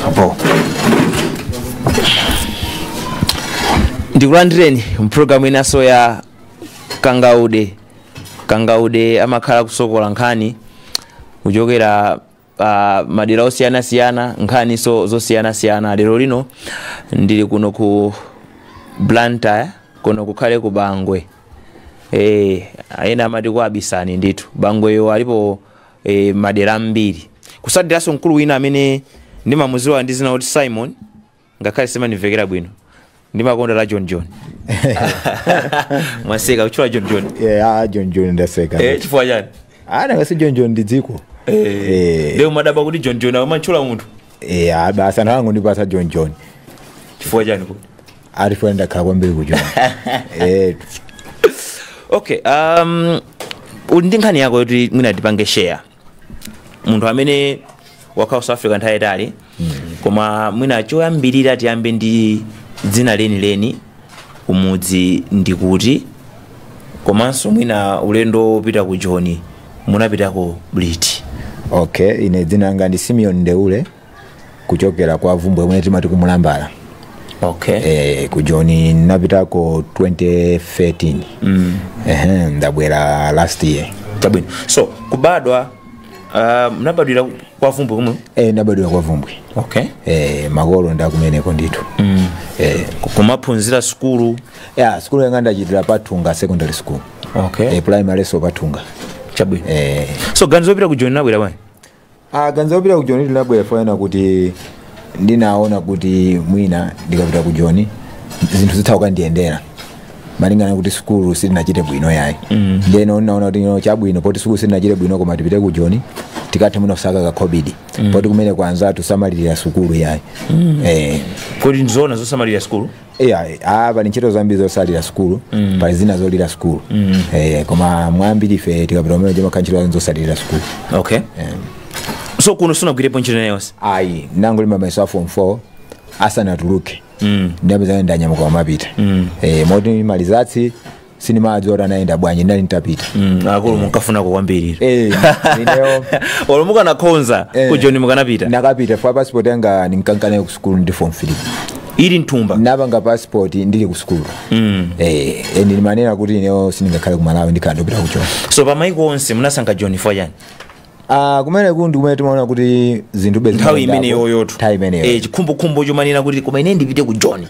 apo ndikulandireni mu pulogalamu inanso ya kangaude Kangaude amakhala akusokola nkhani kuchokera madera osiyanasiyana, nkhaninso zosiyanasiyana. Lero lino ndili kuno ku Blantyre, kuno kukhale ku Bangwe. Eh, ena amati kwabisani ndithu. Bangweyo alipo eh, madera ambiri. Kusatiranso mkulu wina amene ndimamudziwa ndi dzina lakuti Simon, ngakhale silimandimvekera bwino ndimakonda la john john mwaseka kutchula john john yeah, ah, john john ndaseka eh, chifukwa chani ah, nanga si john john ndi dziko eh, eh. ndiye mumadabwa kuti john john amatchula munthu eh, ah, basi anthu anangondipatsa john john chifukwa chani kuti chifukwa ndakhala kwambiri ku john eh. okay uli ndi nkhani yako yoti mwina tipange share munthu amene wakhalako ku south africa nthawi yayitali koma mwina choyambirira tiyambe ndi dzina lenileni kumudzi ndi kuti komanso mwina ulendo wopita ku joni munapitako liti okay ine dzina langa ndi simeon ndeule kuchokera kwa vumbwe komwe timati kumulambala okay eh, ku joni ndinapitako 2013 mm. Ehe, ndabwera last year chabwino so kubadwa uh, munabadwira kwa vumbwe komwe eh, ndinabadwira kwa vumbwe okay eh, makolo ndakumeneko ndithu mm. eh, kumaphunzira sukulu yeah sukulu yanga ndachitira patunga secondary school okay eh, primary nso patunga chabwino eh, so ganizo lopita ku joni linabwera bwanji ah ganizo lopita ku joni linabwera poona kuti ndinaona kuti mwina ndikapita ku joni zinthu zitha kukandiyendera malingana kuti sukulu sitinachite bwino yayi mm. ndeno ndinaona kuti no, chabwino poti sukulu sitinachite bwino koma tipite ku joni tikathe mwina kusaka makobidi mm. poti kumene kwanzathu samalira sukulu yayi mm. eh, kodi ndizoona zoti samalira sukulu Yeah, eh, ah, pali ntchito zambiri zosalira sukulu mm. pali zina zolira sukulu mm. eh, koma mwambiri ife tikapita kumene kuja timakagwira ntchito zake zosalira sukulu okay so kuno sunagwirepo ntchito ina iliyonse ayi ndinangolemba mayeso a form 4 asanatuluke mm. ndapezeka ndanyamuka kumapita mm. eh, moti ma results sindimadziwa kuti anayenda bwanji ndinali nditapita Mm, akulu munkafunako kwambiri Eh, ineyo olo mukanakhonza Eh. ku joni mukanapita nakapita chifukwa passport yanga ndinkankanayo ku sukulu ndi form 3 ili m'thumba ndinapanga passport ndili ku sukulu Mm. eh, eh, ndimanena kuti ineyo sindingakhale ku malawi ndikhala nditapita ku joni so pa maiko onse munasankha joni chifukwa chani Ah, kumeneku ndi kumene timaona kuti zinthuzi nthawi zimayendako. imeneyoyotu nthawi imeneyo Eh, chikhumbokhumbo chomanena kuti koma ine ndipite ku john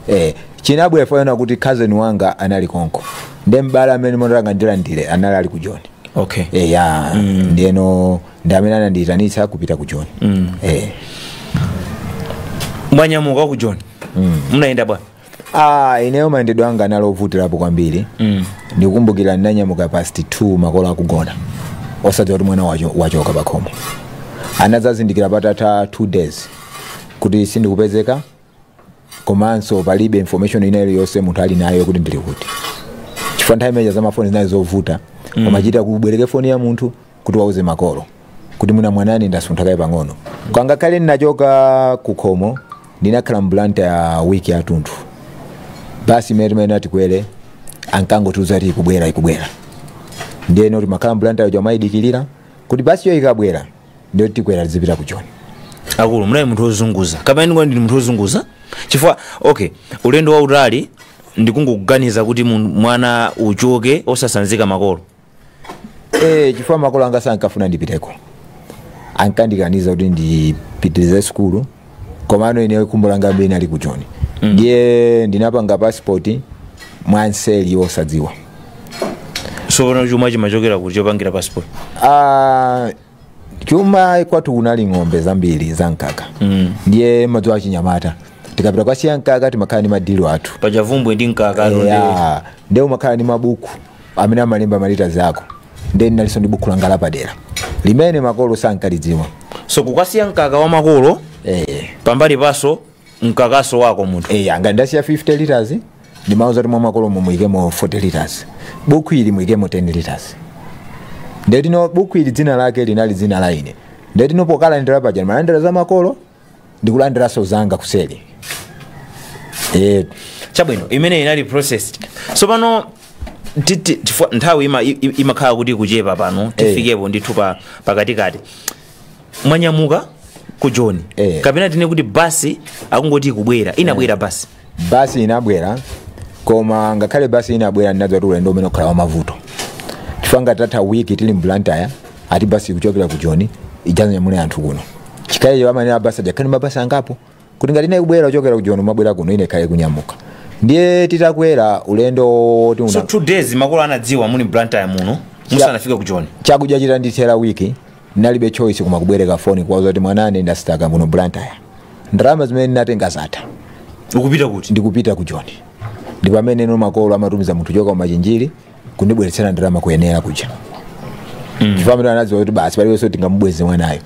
eh, chinabwera poona kuti cousin wanga anali konko ndi m'bale amene ndimafuna ndilandire anali ali ku john okay eh, ya ndiyeno ndi amene anandiyitanitsa kupita ku john eh. mwanyamuka ku john munayenda bwanji Ah, ineyo mayendedwe anga anali ovutirapo kwambiri mm. ndikukumbukira ndinanyamuka past 2 makolo akugona osadziwa kuti mwana wacho- wachoka pakhomo anadzazindikira patatha 2 days kuti sindikupezeka komanso palibe information ina iliyonse munthu ali nayo kuti ndili kuti chifukwa nthawi imeneja zamafoni zinali zovuta mm. umachita kubwereka foni ya munthu kuti uwauze makolo kuti mwina mwanani ndasuntha kaye pang'ono ngakhale ndinachoka pakhomo ndinakhala m'Blantyre wiki yathunthu basi imene timati tikwere ankangotiuza kuti ikubwera ikubwera ndiyeno timakhala m'Blantyre muja kumayidikirira kuti basiyo ikabwera ndiye tikwere tizipita ku joni akulu munali munthu wozunguza kapena ndikuti ndinu munthu wozunguza chifukwa okay ulendo wautali ndikungokuganiza kuti mun- mwana uchoke osatsanzika makolo eh chifukwa makolo anga sankafuna ndipiteko ankandikaniza kuti ndipitirize sukulu komano ine khumbo langa linali ku joni ndiye ndinapanga pasipoti mwamseri osadziwa tsopano chuma chinachokera kuti chopangira passport Ah, chuma kwathu kunali ng'ombe zambiri za mkaka mm. ndiye mumadziwa zachinyamata tikapita kukasiya mkaka timakhala ndi madilo athu paja Bvumbwe ndi mkaka ndo ndi- Yeah. ndiye umakhala ndi mabuku amene amalemba malita zako ndiye ndinalinso ndi buku langa lapadera limene makolo sankalidziwa so kukasiya mkaka wa makolo eh. pambali pake mkakanso wako munthu eh, anga ndasiya 50 liters ndimauza kuti mwa makolomo muikemo 40 liters buku ili muikemo 10 liters ndiyeno buku ili dzina lake linali dzina lina ndiyeno pokalandira paja ndimalandira za makolo ndikulandiranso zanga kuseri eh chabwino imeneyo inali process tsopano ti- ti- tifo- nthawi ima- i- i- imakhala kuti ikuchepa pano tifikepo ndithu pa pakatikati mwanyamuka wa ku joni Eh. kapena tinene kuti basi akungoti ikubwera inabwera basi basi inabwera koma ngakhale basi inabwera ndinadziwa kuti ulendo umene ukhala wamavuto chifukwa ngati tatha wiki tili mblantyre ati basi kuchokera ku joni idzanyamule anthu kuno chifukwa iyeyo amene abasi ajakhani mabasi angapo kuti ngati ina ikubwera kuchokera ku joni umabwera kuno ina ikhale ikunyamuka ndiye titakwera ulendo woti una- so two days makolo anadziwa muli mblantyre muno musanafike ku joni chakudya chitandithera wiki ndinalibe choice koma kubwereka foni kuwauza kuti mwananu ndasitaka muno blantyre ndalama zimene ndinatenga zatha ukupita kuti ndikupita ku joni ndi pamene no makolo amatumiza munthu kuchoka kumachinjiri kundibweretsera ndalama kuyenera kuja chifukwa amene anadziwa kuti basi palibenso tingamubweze mwanayo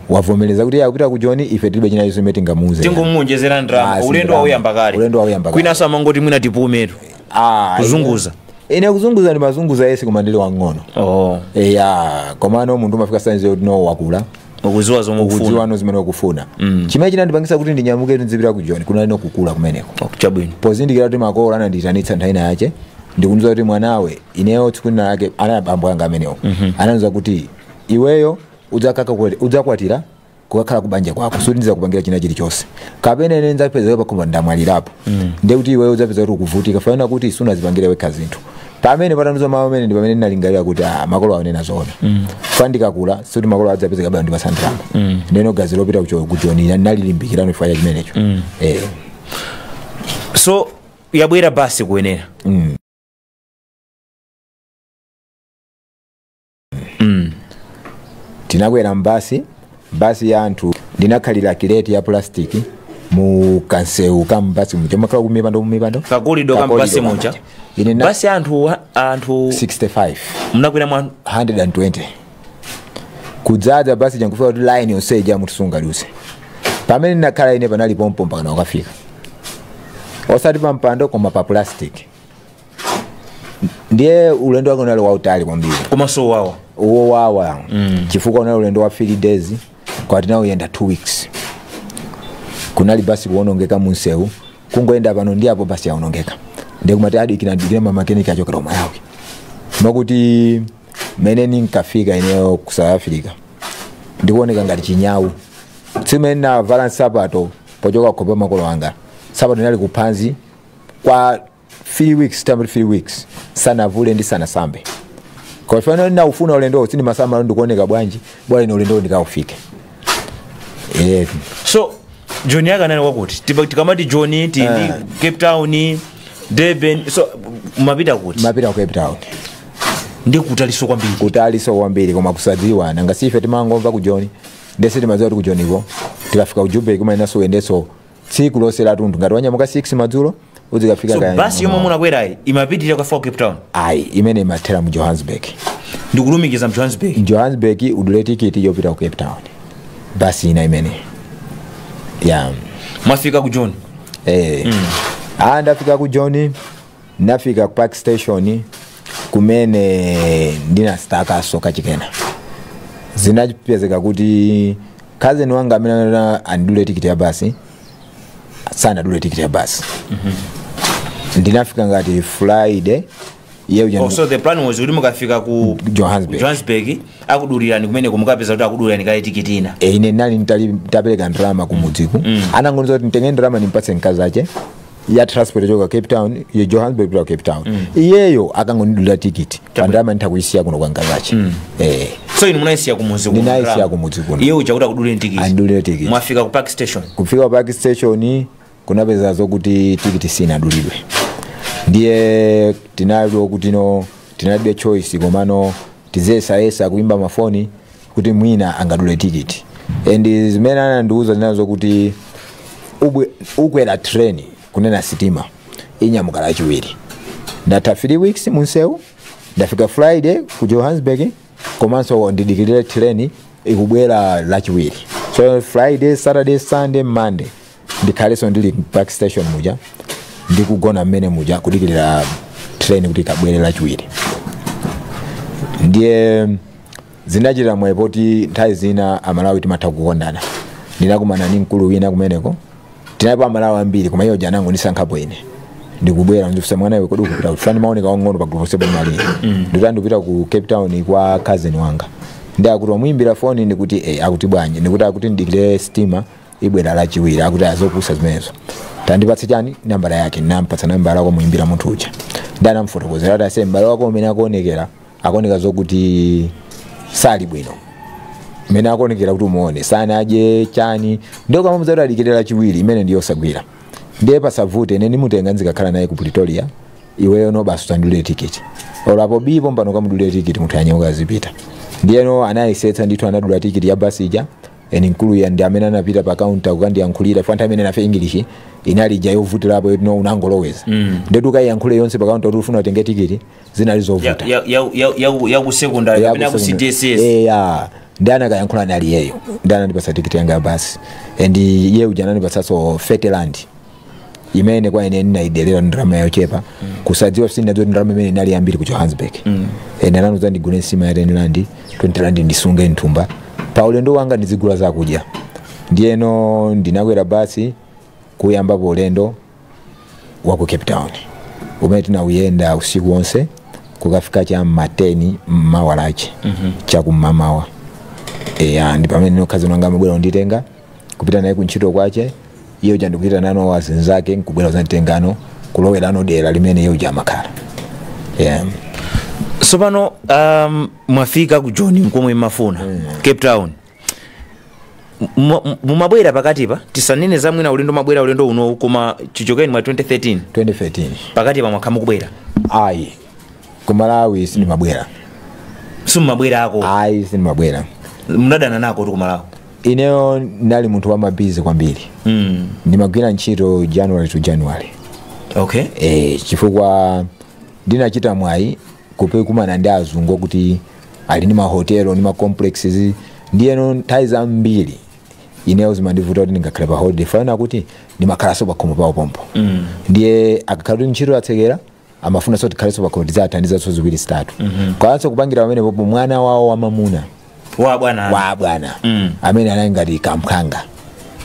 wavomereza kuti akupita ku joni ife tilibe china chilichonse chimene tingamuuze tingomuonjezera ndalama Basi, ulendo ndalama. wauyamba kale Ulendo wauyamba kale. kwinaso amangoti mwina tipumetu Ah, kuzunguza ine kuzunguza ndimazunguza yesi koma ndili wang'ono oh. eya komano munthu umafika saizi yoti no wakula ukuziwa zomwe ukufuna kudziwano zimene ukufuna chimene chinandipangisa kuti ndinyamuke ndizipita ku joni kunali nokukula kumeneko Oh, chabwino pozindikira kuti makolo anandiyitanitsa nthawi ina yake ndikundiuza kuti mwanawe ineyo tsiku lina lake anali abambo anga amenewo anandiuza kuti iweyo udzakaka kwele- udzakwatira kukakhala kubanja kwako sikuti ndizakupangira china chilichonse kapena ine ndidzapeza pakhomo ndamwalirapo ndiye kuti iweyo udzapeza kuti ukuvutika chifukwa chonena kuti sunazipangire wekha zinthu pamene atandiuza mawu amene ndi pamene ndinalingalira kuti ah, makolo awa akunena zoona chifukwa ndikakula sikuti makolo adzapeza kabano ndipasandirapo ndeno ganizo lopita kucho- kujoni ndinalilimbikirano chifukwa cha chimenecho Eh. so yabwera basi kuyenera Mm. mm. tinakwera mbasi basi ya anthu ndinakhalira kileti ya plastic mu kansewu ka mbasi muja makhala kumipando kumipando kakulidwa ka Kakolidwa mbasi muja kambacha. ine na basi anthu wa- anthu 65 mnakwera mwa 120 kudzadza basi cha nkufika kuti line yonse ija munthu sungaluse pamene ndinakhala ine panali pompo mpakana kukafika osati pa mpando koma pa plastic ndiye ulendo wake unali wautali kwambiri komanso wawa wowawa mm. chifukwa unali ulendo wa 3 days koma tinauyenda 2 weeks kunali basi kuonongeka munsewu kungoyenda pano ndi apo basi yaonongeka ndiye kumati adikira dikira mamakeniki achokera ku malawi moti mene ninkafika ineyo ku south africa ndikuoneka ngati chinyawu zimene navala nsapato pochoka kwa makolo anga nsapato inali kuphanzi kwa 3 weeks tam 3 weeks ndisanavule ndisanasambe kwa fana na ufuna ulendowo sindimasamala ndikuoneka bwanji bola ine ulendowo ndikaufike Eh, so joni yake inali ya kuti Tipa- tikamati joni tili Eh. cape town durban so mumapita kuti ndimapita ku cape town ndi kutaliso kwambiri kutaliso kwambiri koma kusadziwa nanga si ife timangomva ku joni nde sitimadziwa kuti ku joniko tikafika ku jubeki umayeneranso uyendeso tsiku lonse latundu ngati wanyamuka 6 madzulo udzikafika so kaya basi yomwe munakwerayi imapitirira kwa cape town ayi imene imathera mu johannesburg ndikulumikiza mu johannesburg johannesburg udule tikiti yopita ku cape town basi ina imene ya mwafika ku Joni eh. ah, ndafika ku Joni Ndinafika ku Park Station kumene ndinasitakaso kachikena. Zinapezeka kuti cousin wanga amene ana- andidulire tikiti ya basi sanadule tikiti ya basi. Ndinafika ngati Friday iye uja Oh, so the plan was kuti mukafika ku Johannesburg. johannesburg akudulirani kumeneko mukapeza kuti akudulirani kale tikiti ina Eh, ine nali nitali- nitapereka ndalama kumudzi kuno anangondiuza kuti nditenge ndalama nimpatse mkazi ache ya transport yochoka cape town ya johannesburg kupita ku cape town iyeyo akangondidulira tikiti ndalama nditha kuyisiya kuno kwa mkazi ache eh so inu munayisiya kumudzi kuno Ndinayisiya ndalama. kumudzi kuno. iye uja kuti akudulire tikiti Andidulire tikiti. mwafika ku park station kufika ku park station kunapeza zokuti tikiti sinadulidwe ndiye tinaona kuti no tinalibe choice komano tiziyesayesa kuimba mafoni kuti mwina angadule tikiti and zimene anandiuza zinali zokuti ubwe- ukwera train kunena sitima inyamuka lachiwiri ndatha 3 weeks munsewu ndafika friday ku johannesburg komanso ndidikirire train ikubwera lachiwiri so friday saturday sunday monday ndikhalenso ndili park station muja ndikugona mmene muja kudikirira train kuti ikabwere lachiwiri ndiye zinachitika mwayi poti nthawi zina amalawi timatha kukondana ndinakumana ndi mkulu wina kumeneko tinalipo amalawi ambiri koma iye uja anangondisankhapo ine ndikubwera ndikufunsa mwana iwe kodi ukupita kuti paja ndimaoneka wang'ono pa gulupu yonse pamene tinali ndikuti ndikupita ku cape town kwa cousin wanga ndiye akuti wamuyimbira foni ndikuti eh, akuti bwanji ndikuti akuti ndidikire sitima ibwera lachiwiri akuti azopusa zimenezo tandipatse chani nambala yake ndinampatsa nambala yake kumuyimbira munthu uja nde anamufotokozera kuti aise mbale wako umene akuonekera akuoneka zokuti sali bwino mmene akuonekera kuti utamuona sanadye chani ndiye ukamamuuza kuti adikire lachiwiri imene ndiyosagwira ndiye pasavute ine ndimutenga ndizikakhala naye ku pretoria iweyo no basi utamdulira tikiti olo apo bii pompano kamudulire tikiti munthu anyamuke azipita ndiyeno anayesetsa ndithu anadula tikiti ya basi ija eni mkulu uja ndi amene anapita pa kaunta kukandiyankhulira panthawi imene nafe english inali ija yovutirapo yoti no unangoloweza mm. ndiyetu ukayiyankhule yonse pa kaunta kuti ufuna utenge tikiti zinali zovuta ya, ya, ya, ya, ya ku secondary Ya kapena ku kusema- cdss Eh, ya ndi anakayankhula ni ali iyeyo ndi anandipasa tikiti yanga ya basi and iye uja anandipasaso 30 rand imene kwa ine ndinaidelera ndrama yochepa kusadziwa zoti ndi ndrama imene inali zambiri ku johannesburg and anandiuza ndigule nsima ya 10 rand 20 rand ndisunge mthumba pa ulendo wanga ndizigula zakudya ndiyeno ndinakwera basi kuyambapo ulendo wa ku cape town umene tinawuyenda usiku wonse kukafika cha ma 10 mmawa lache chakum'mawa eya ndi pamene nkhazini wanga amabwera kunditenga kupita naye kuntchito kwache iye uja ndikupitanano wazinzake nkubwera kuzanditengano kulowerano dera limene iye uja amakhala yeah. sopano um, mwafika ku joni mkomwe mmafuna cape town Mu- mumabwera pakatipa tisanene za mwina ulendo mabwera ulendo unowu koma chichokeni mwa 2013 2013 pakatipa mwakhala mukubwera ayi ku malawi sindimabwera simumabwera -ko ayi sindimabwera munadana nakotu kumalawi ineyo ndinali munthu wa busy kwambiri mm. ndimagwira ntchito january to january okay e, chifukwa ndinachita mwayi kupekumana ndi azungu kuti ali ndi mahotelo ndi macomplexes ndiyeno nthawi zambiri ineyo zimandivuta kuti ndingakhale pa holiday fana kuti ndimakhalanso pakhomo pawo pompo mm. ndiye akakhala kuti ntchito yatsekera amafunaso ndikhalenso pakhomo ndidzathandizanso ziwiri zitatu mm-hmm. kwalanso kupangira pamenepopo mwana wawo wamamuna wa bwana wa abwana mm. amene anali ngati kam'ng'ono wanga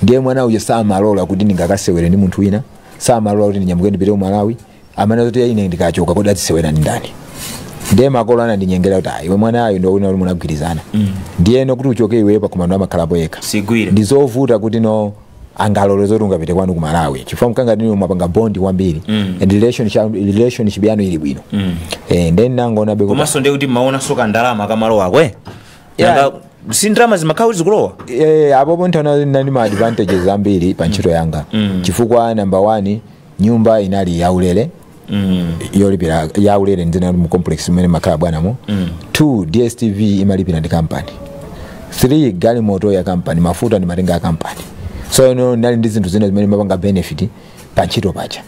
ndiye mwana uja samalola kuti ndingakasewere ndi munthu wina samalola kuti ndinyamuke ndipite ku malawi amati kuti ine ndikachoka kodi adzisewera ndi ndani ndiye makolo anandinyengera kuti "Ah, iwe mwanayo ndi iwe uli munagwirizana ndiyeno kuti uchoke iweyo pakhomo pano amakhalapo yekha sigwire ndi zovuta kuti ino angalole zoti ungapite kwanu ku malawi chifukwa mwana ndinu mwapanga bondi kwambiri mm. and relationship, relationship yanu ili bwino mm. eh, then ndinangoonabe kuti komanso ndiye kuti mmaona so kandalama kamalowa Yeah. Nanga si ndalama zimakhala kuti zikulowa eh, apopo nthawi ndinali ndi ma advantages ambiri pa ntchito yanga mm. chifukwa number one nyumba inali yaulere mm. yolipira yaulere ndinali mu complex mmene amakhala bwanamo mm. two dstv imalipira ndi kampani three galimoto ya kampani mafuta ndimatenga a kampani so ine ndinali ndi zinthu zina zimene ndimapanga benefit pa ntchito paja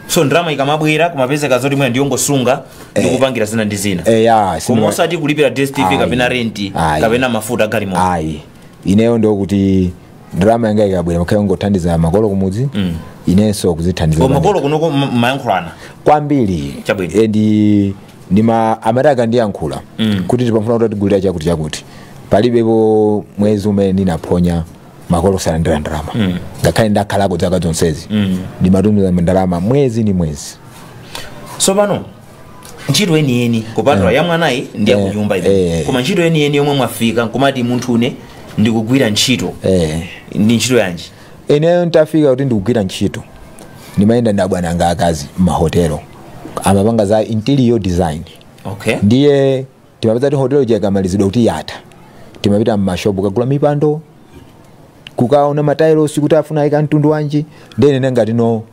so ndalama ikamabwera kumapezeka zoti mwina ndiyongosunga ndi kupangira zina ndi zina Eh, ya, koma sindima- osati kulipira dstv Ayi. kapena renti Ayi. kapena mafuta a galimoto ayi ineyo ndiye kuti ndalama yanga ikabwera imakhala yongothandiza makolo kumudzi inenso kuzithandiza koma makolo kunoko m- mayankhulana kwambiri Chabwino. Eh, ndi ndimati amati akandiyankhula Mm. kuti tikufuna kuti utigulire chakuti chakuti palibepo mwezi umene ndinaphonya makolo osalandira ndalama ngakhale ndakhalako zaka zonsezi Mm. ndimatumiza ndalama mwezi ndi mwezi tsopano ntchito yeniyeni kupatula ya mwanayi ndi ya Eh, kunyumba eh. koma ntchito yeniyeni yomwe mwafika nkumati munthu ine ndikugwira ntchito eh. ndi ntchito yanji Ineyo ntafika kuti ndikugwira ntchito ndimayenda ndi abwana anga akazi m'mahotelo amapanga za interior design okay ndiye timapeza kuti hotelo ikamalizidwa kuti yatha timapita mmashopu kukagula mipando kukaona matailosi kuti afuna aike mtundu wanji ndiye ndinali ngati no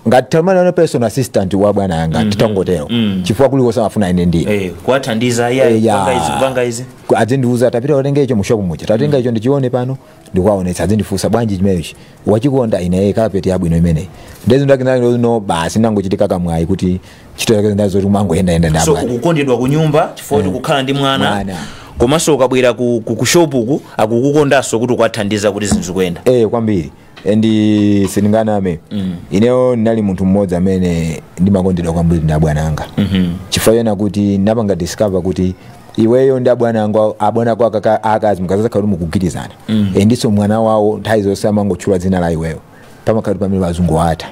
ngati timati ndi personal assistant wa bwana yanga titangotero chifukwa kulikonse amafuna ine ndi eh, kuwathandiza iya Eh, ya. kupanga izi kupanga izi Ku- adzindiuza tapita utenge icho mushopu muja tatenga icho ndichione pano ndikuwaonetsa adzindifunsa bwanji chimenechi wachikonda ine eh, kapeti yabwino imeneyi ndezi ndakinano basi nangochitika kamwayi kuti ntchito zake zinazo kuti umangoyendayenda ndi abwana so ukukondedwa ku nyumba chifukwa kuti kukhala ndi mwana Mwana. komanso ukabwera ku, ku, ku shop uku akukukondanso kuti ukuwathandiza kuti zinthu zikuyenda eh kwambiri and sindinganame ineyo ndinali munthu mmodzi amene ndimakondedwa kwambiri ndi abwana anga chifukwa chonena kuti ndinapanga discover kuti iweyo ndi abwana anga abwana ako akaka- akazi mukadzakhala kuti mukugwirizana e ndiso mwana wawo nthawi zonse amangotchula dzina la iweyo pamakhala kuti pamene azungu atha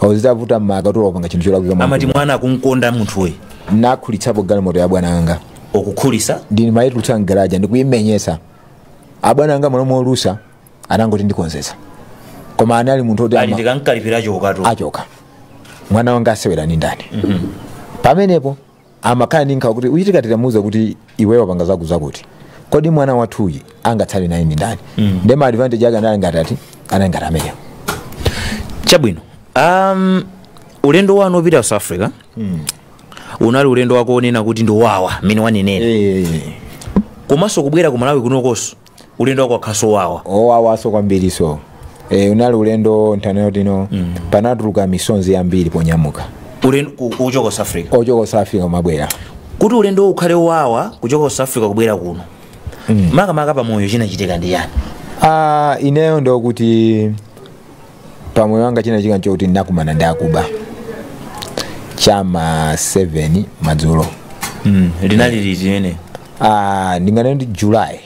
ozivuta umakathano kupanga chinthu cholakwika amati mankulu. mwana akumukonda munthuyi ndinakhulitsapo galimoto ya abwana anga okukhulisa ndinimayitulutsa mgaraja ndikuyimenyetsa abwana anga mmalo molusa anangoti ndikonzetsa koma anali munthu oti ali ama- ndikankalipira choka achoka mwana wanga asewera ndi ndani pamenepo amakhala ndi nkhawa kuti zitachitika titamuuza kuti iweyo wapanga zakuti zakuti kodi mwana wathuyi angatsale naye ndi ndani nde ma advantage ake anali ngati ati anali ngati amenewo chabwino um, ulendo wanu opita ku south africa unali ulendo wako onena kuti ndi owawa mmene wanenera komanso kubwera ku malawi kunokonso ulendo wako wakhalanso owawa owawaso kwambiri so e, unali ulendo nthano yoti no mm. panatuluka misonzi yambiri ponyamuka ulendo ku- kuchoka ku south africa ochoka south africa kumabwera kuti ulendo uwu ukhale owawa kuchoka ku south africa kubwera kuno makamaka pamoyo chinachitika ndi chani Ah, ineyo ndokuti pa moyo wanga chinachitika nchokuti ndinakumana ndi akuba chama 7 madzulo Mm, linali liti limenelo ah, ndinganene ndi july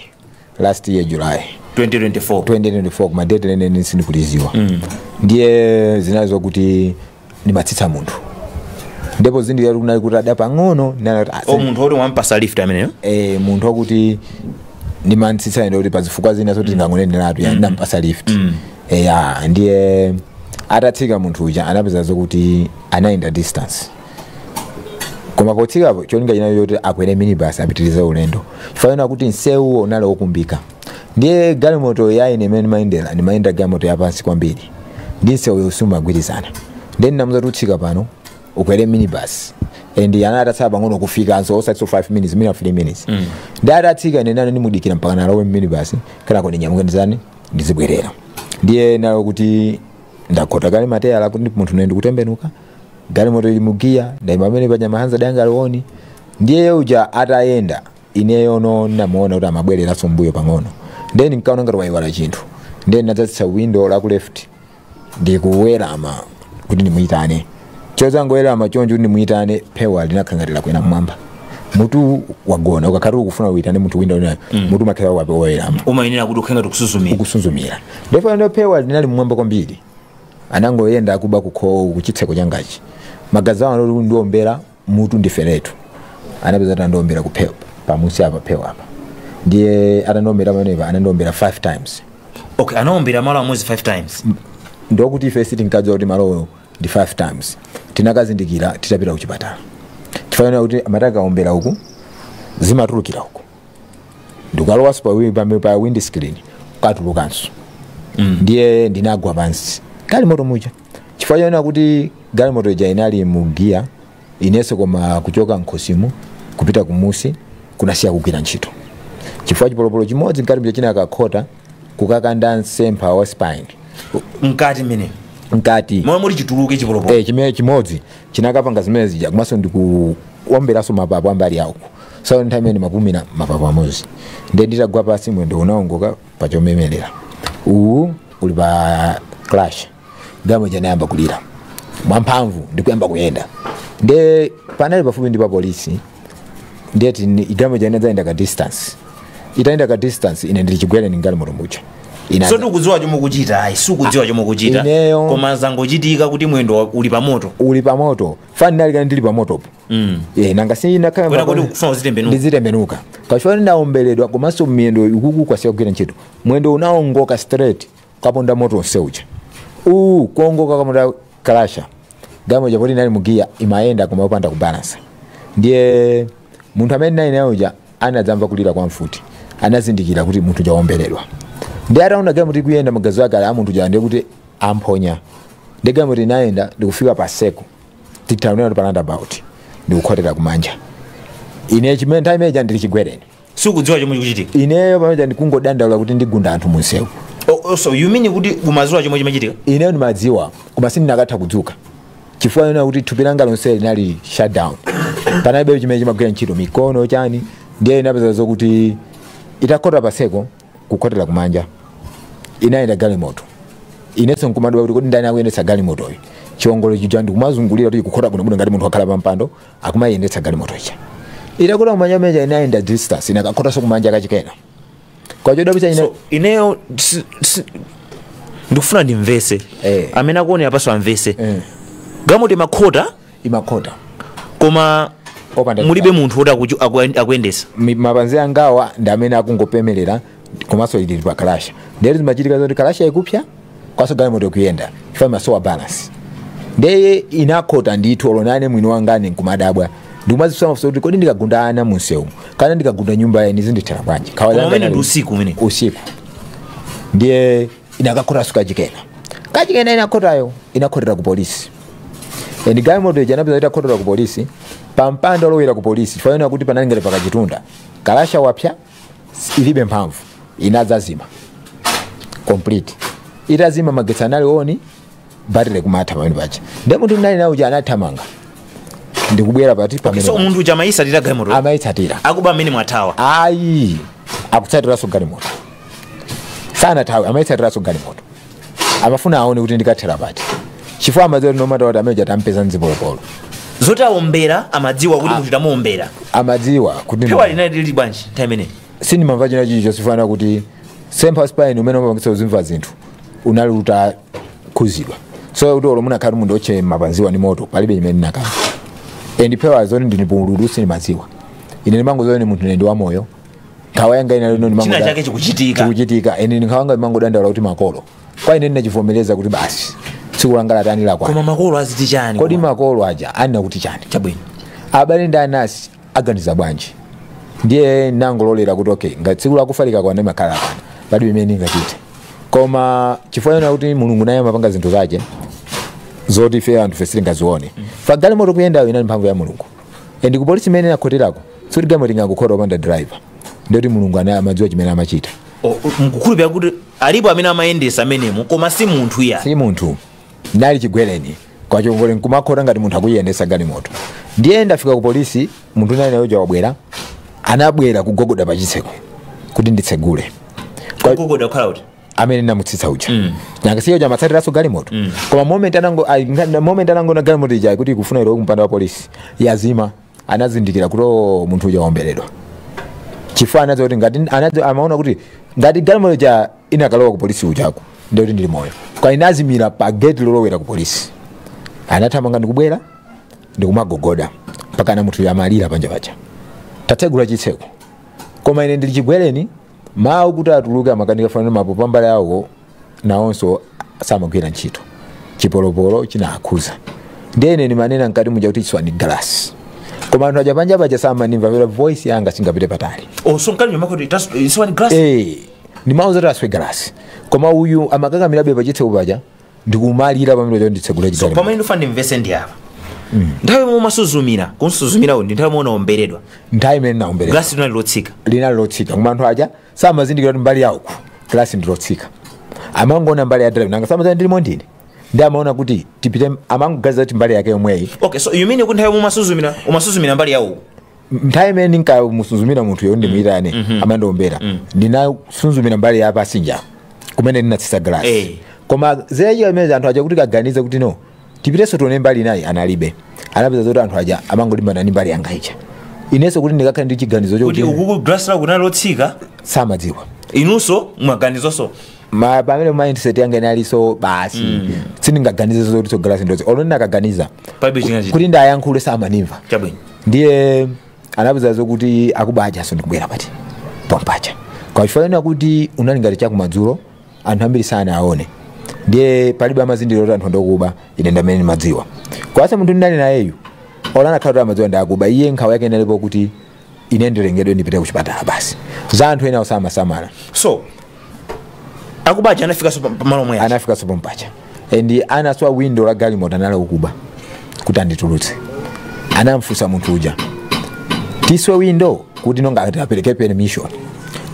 last year july 2024 2024 kumadate lenileni sindikulidziwa mm. ndiye zinali zokuti ndimatsitsa munthu ndipo zindikira kuti kunali kutada pang'ono ndinali kuti, ah, o munthu oti wampasa lift ameneyo eh, munthu wakuti ndimatsitsa ndiye kuti pazifukwa zina zoti ndingangoneneratu ya ndampasa lift Eh, ya ndiye atatsika munthu uja anapeza zokuti anayenda distance koma potsikapo cholinga chinali choti akwere minibus apitirize ulendo chifukwa chonena kuti nsewuwo unali wokumbika ndiye galimoto ya ine imene ndimayendera ndimayendera galimoto yapansi kwambiri ndi msewu sumagwirizana ndiye ndinamuza kuti utsike pano ukwere minibus and anali atatsala pang'ono kufikanso osatinso 5 minutes mwina 3 minutes mm. ndiye atatsika ine nane ndimudikira mpakana alowe minibus kenako ndinyamuka ndizitani ndizibwerera ndiye ndinali kuti ndakhota kale matayala kuti munthu naye ndikutembenuka galimoto ili mugiya ndaima pamene paja mahazard anga ali on ndiye uja atayenda ineyono ndinamuona kuti amabwereranso mbuyo pang'ono ndiye ndinkaona ngati wayiwala chinthu ndiye ndinadzatsitsa windo la ku left ndikuwerama kuti ndimuyitane chozangowerama choncho kuti ndimuyitane phewa linakhala ngati lakwera mmwamba mutu wagona ukakhala ukufuna uyitane munthu window inayo mutu umakhala wape wowerama umayenera kuti ukhale ngati ukusuzumira ukusuzumira ndipo ndo phewa linali mmwamba kwambiri anangoyenda akuba kukhomo kuchitseko changachi maganizo awo anali ondiombera mutu ndiferetu anapeza atandiombera kuphewa pamusi pa phewa apa ndiye atandiombera pamenepa anandiombera 5 times okay anaombera malo amodzi 5 times ndiye kuti ife sitinkadziwa kuti malowo ndi 5 times tinakazindikira titapita kuchipatala chifukwa chonena kuti amati akaombera uku zimatulukira uku ndikalowanso pa, wi- pa, pa windscreen katulukanso ndiye ndinagwa pansi m'galimoto muja chifukwa chonena kuti galimoto ija inali mu giya inenso koma kuchoka mkhosimu kupita kumusi kunasiya kugwira ntchito chifukwa chipolopolo chimodzi mkati mja chinakakhota kukakanda msempha wa spine mkati mmene mkati momwe muli chituluke chipolopolo eh, chimene chimodzi chinakapanga zimene zija komanso ndikuomberanso mapapo a mbali ya uku so nthawi imeneyo ndimapumira mapapo amodzi nde nditagwa pasi mwendo unaongoka pa chomemerera uwu uli pa clutch galimoto ija inayamba kulira mwamphamvu ndikuyamba kuyenda nde panali pafupi ndi pa polisi ndiyetu galimoto ija inadzayenda ka distance itayenda ka distance ine ndili chigwereni m'galimoto muja Ina- so sukudziwa chomwe ukuchita ayi sukudziwa chomwe ukuchita Ineyo- koma zangochitika kuti mwendo wa- uli pamoto uli pamoto chifukwa ndinali kale ndili pamotopo Mm. Eh, nanga sinakhala Kwena kodi ukufuna uzitembenuka? ndizitembenuka kachifukwa ndinaombeledwa komanso miyendo ikuku kwasiya kugwira ntchito mwendo unaongoka straight kaponda moto onse uja uwu kuongoka kaponda clutch galimoto ija poti inali mugiya imayenda koma yopanda kubalansa ndiye munthu amene ndinali naye uja anadzamva kulira kwa mfuti anazindikira kuti munthu uja waombeledwa ndiye ataona galimoto ikuyenda maganizo ake ali a munthu uja ndiye kuti amphonya ndiye galimoto inayenda ndikufika pa seko titaonera pa roundabout ndikukhotera kumanja ine chimene nthawi imene ija ndili chigwereni sindikudziwa chomwe chikuchitika ineyo pamene ndikungodandaula kuti ndigunda anthu munsewu O- o- so you mean kuti umadziwa chomwe chimachitika ineyo ndimadziwa koma sindinakatha kudzuka chifukwa chonena kuti thupi langa lonse linali shutdown panalibe chimene chimagwira ntchito mikono chani ndiye inapeza zokuti itakhota paseko kukhotera kumanja inayenda galimoto inenso nkumadabwa kuti kodi ndani akuyendetsa galimotoyi chiongolo chija ndikumazungulira kuti kukhota bwinobwino ngati munthu wakhala pampando akumayendetsa galimoto ija itakhota kumanja muja inayenda distance inakakhotanso kumanja kachikena koma chodabwitsa ine so ineyo si- si- ndikufuna ndimvese Eh. amene akuonera apaso amvese Eh. galimoto imakhota imakhota koma Opanda mulibe chipani. munthu woti akuchu- aku- akuyendesa Mi- mapanzi angawa ndi amene akungopemerera komanso ili pa kalasha ndiye kuti zimachitika zoti kalasha ikupsa komaso galimoto ikuyenda chifukwa imasowa balance ndeye inakhota ndithu olo nane mwini wangane nkumadabwa ndikumazifunsa mafunso kuti kodi ndikagunda ana munsewu kapena ndikagunda nyumba ya eni zindithera bwanji Nkhawa Koma langa umene nali- ndi usiku umene. usiku ndiye inakakhotaso kachikena kachikena inakhotayo inakhotera ku polisi and galimoto ija anapeza itakhotela ku polisi pa mpanda olowera ku polisi chifukwa yonena kuti panali ngati pakachitunda kalasha wapsa ilibe mphamvu inadzazima complete itazima magetsi anali on batire kumatha pamene paja nde munthu ndinali nawo uja anathamanga ndikubwera pati so pamene munthu uja amayisatira galimoto amayitsatira akuba amenewa athawa ayi akutsatiraso galimoto sanathawe amayitsatiraso galimoto amafuna aone kuti ndikathera pati chifukwa amadziwa kuti no matter what amene uja tampeza ndi zipolopolo zoti awombera amadziwa kuti munthu tamuwombera amadziwa kuti phewa linali lili bwanji nthawi imeneyi sindimamva china chilichonse chifukwa chonena kuti mtsempha spine umene umapangitsa uzimva zinthu unali utakhuzidwa so kuti olo munakhala munthu otche mapanziwa ni moto palibe chimene ndinakamva and phewa zoti ndinipululu sindimadziwa ine ndimangoziwa ni munthu ine ndi wamoyo nkhawa yanga ina lino china chake chikuchitika chikuchitika ine nkhawa yanga ndimangodandaula kuti makolo kwa ine ndinachivomereza kuti basi tsiku langa latani lakwana koma makolo aziti chani kodi makolo aja anena kuti chani chabwino abale ndi anansi aganiza bwanji ndiye nangololera kuti okay ngati tsiku lakufa likakwana limakhala lakwana palibe chimene ndingachite koma chifukwa yonena kuti mulungu naye amapanga zinthu zake zoti ife anthufe sitingazione chifukwa galimoto kuyendayo inali mphamvu ya mulungu and kupolisi imene inakhoterako sikuti galimoto ingangokhota opanda driver ndiye kuti mulungu ana- amadziwa chimene amachita O- mukukhulupirira kuti alipo amene amayendesa amenemo koma si munthu eya si munthu ndinali chigwereni koma chiongolo nkumakhota ngati munthu akuyendesa galimoto ndiye ndafika ku polisi munthu ndinali naye uja wabwera anabwera kugogoda pa chitseko kuti nditsegule Kwa- kugogoda kukhala kuti amene namutsitsa uja mm. nakasiya uja amatsatiranso galimoto mm. koma moment anango ai- nga- moment anangoona galimoto ija kuti ikufuna ilowe kumpanda wa polisi yazima anazindikira kuti "Oh, munthu uja waomberedwa chifukwa anadziwa kuti ngati anadziwa amaona kuti ngati galimoto ja inakalowa ku polisi kujako ndiye kuti ndili moyo koma inazimira pa gate lolowera ku polisi anathamanga ndikubwera ndikumagogoda mpakana munthuyo amalira panja paja tatsegula chitseko koma ine ndili chigwereni mawu kuti atuluke amakanika fanana mapo pambali awo nawonso samagwira ntchito chipolopolo chinakhuza ndiye ine ndimanena mkati muja kuti chiswani galasi koma anthu aja panja paja samanimva pera voice yanga singapite patali oso mkati ndimauza kuti chiswani glass Eh, ndimauza zoti aswe galasi koma uyu amakakamirabe pachitseko paja ndikumalira pamene paja nditsegule chitseko so pamene ndifuna ndimvetsetse apa nthawi yomwe umasuzumira kusuzumirako ndi nthawi yomwe unaomberedwa nthawi imene ndinaomberedwa glasi linali lotsika linali lotsika koma anthu aja samazindikira kuti mbali yawo glasi ndi lotsika amangoona mbali ya driver nanga samadziwa ndilimo ndine nde amaona kuti tipite amangoganiza kuti mbali yake yomweyi okay so you mean kuti nthawi yomwe umasuzumira umasuzumira mbali yawo nthawi imene ndinkamusuzumira munthu yo ndimuyitane amandiwombera ndinasuzumira mbali ya pasinja kumene ndinatsitsa Eh. galasi koma zinachitika amene anthu aja kuti akaganize kuti no tipitenso tione mbali inayi analibe anapeza zoti anthu aja amangolimbana ndi mbali yanga ija inenso kuti ndikakhale ndi chiganizo kuti chokuti ukuku glass lake kunali lotsika samadziwa inunso mwaganizonso ma pamene mindset yanga inalinso basi sindingaganize zoti so glass ndozi olo ndinakaganiza palibe chingachitike kuti ndiyankhule samanimva chabwino ndiye anapeza zokuti akuba ajanso ndikubwera pati pompaja kwa chifukwa chonena kuti unali ngati chakumadzulo anthu ambiri sanawaone ndiye palibe amazindikira kuti anthu ndokuba ine ndamene ndimadziwa kwasa munthu ndinali nayeyu olo anakhala kuti amadziwa ndakuba iye nkhawa yake inalipo kuti ine nditengedwe ndipite kuchipatala basi za anthu ena osamasamala so akuba aja anafikanso pa- pamalo omwe aja. anafikanso pompaja and anaswa window la galimoto anali akuba kuti anditulutse anamfunsa munthu uja tiswe window kuti mongati apereke permission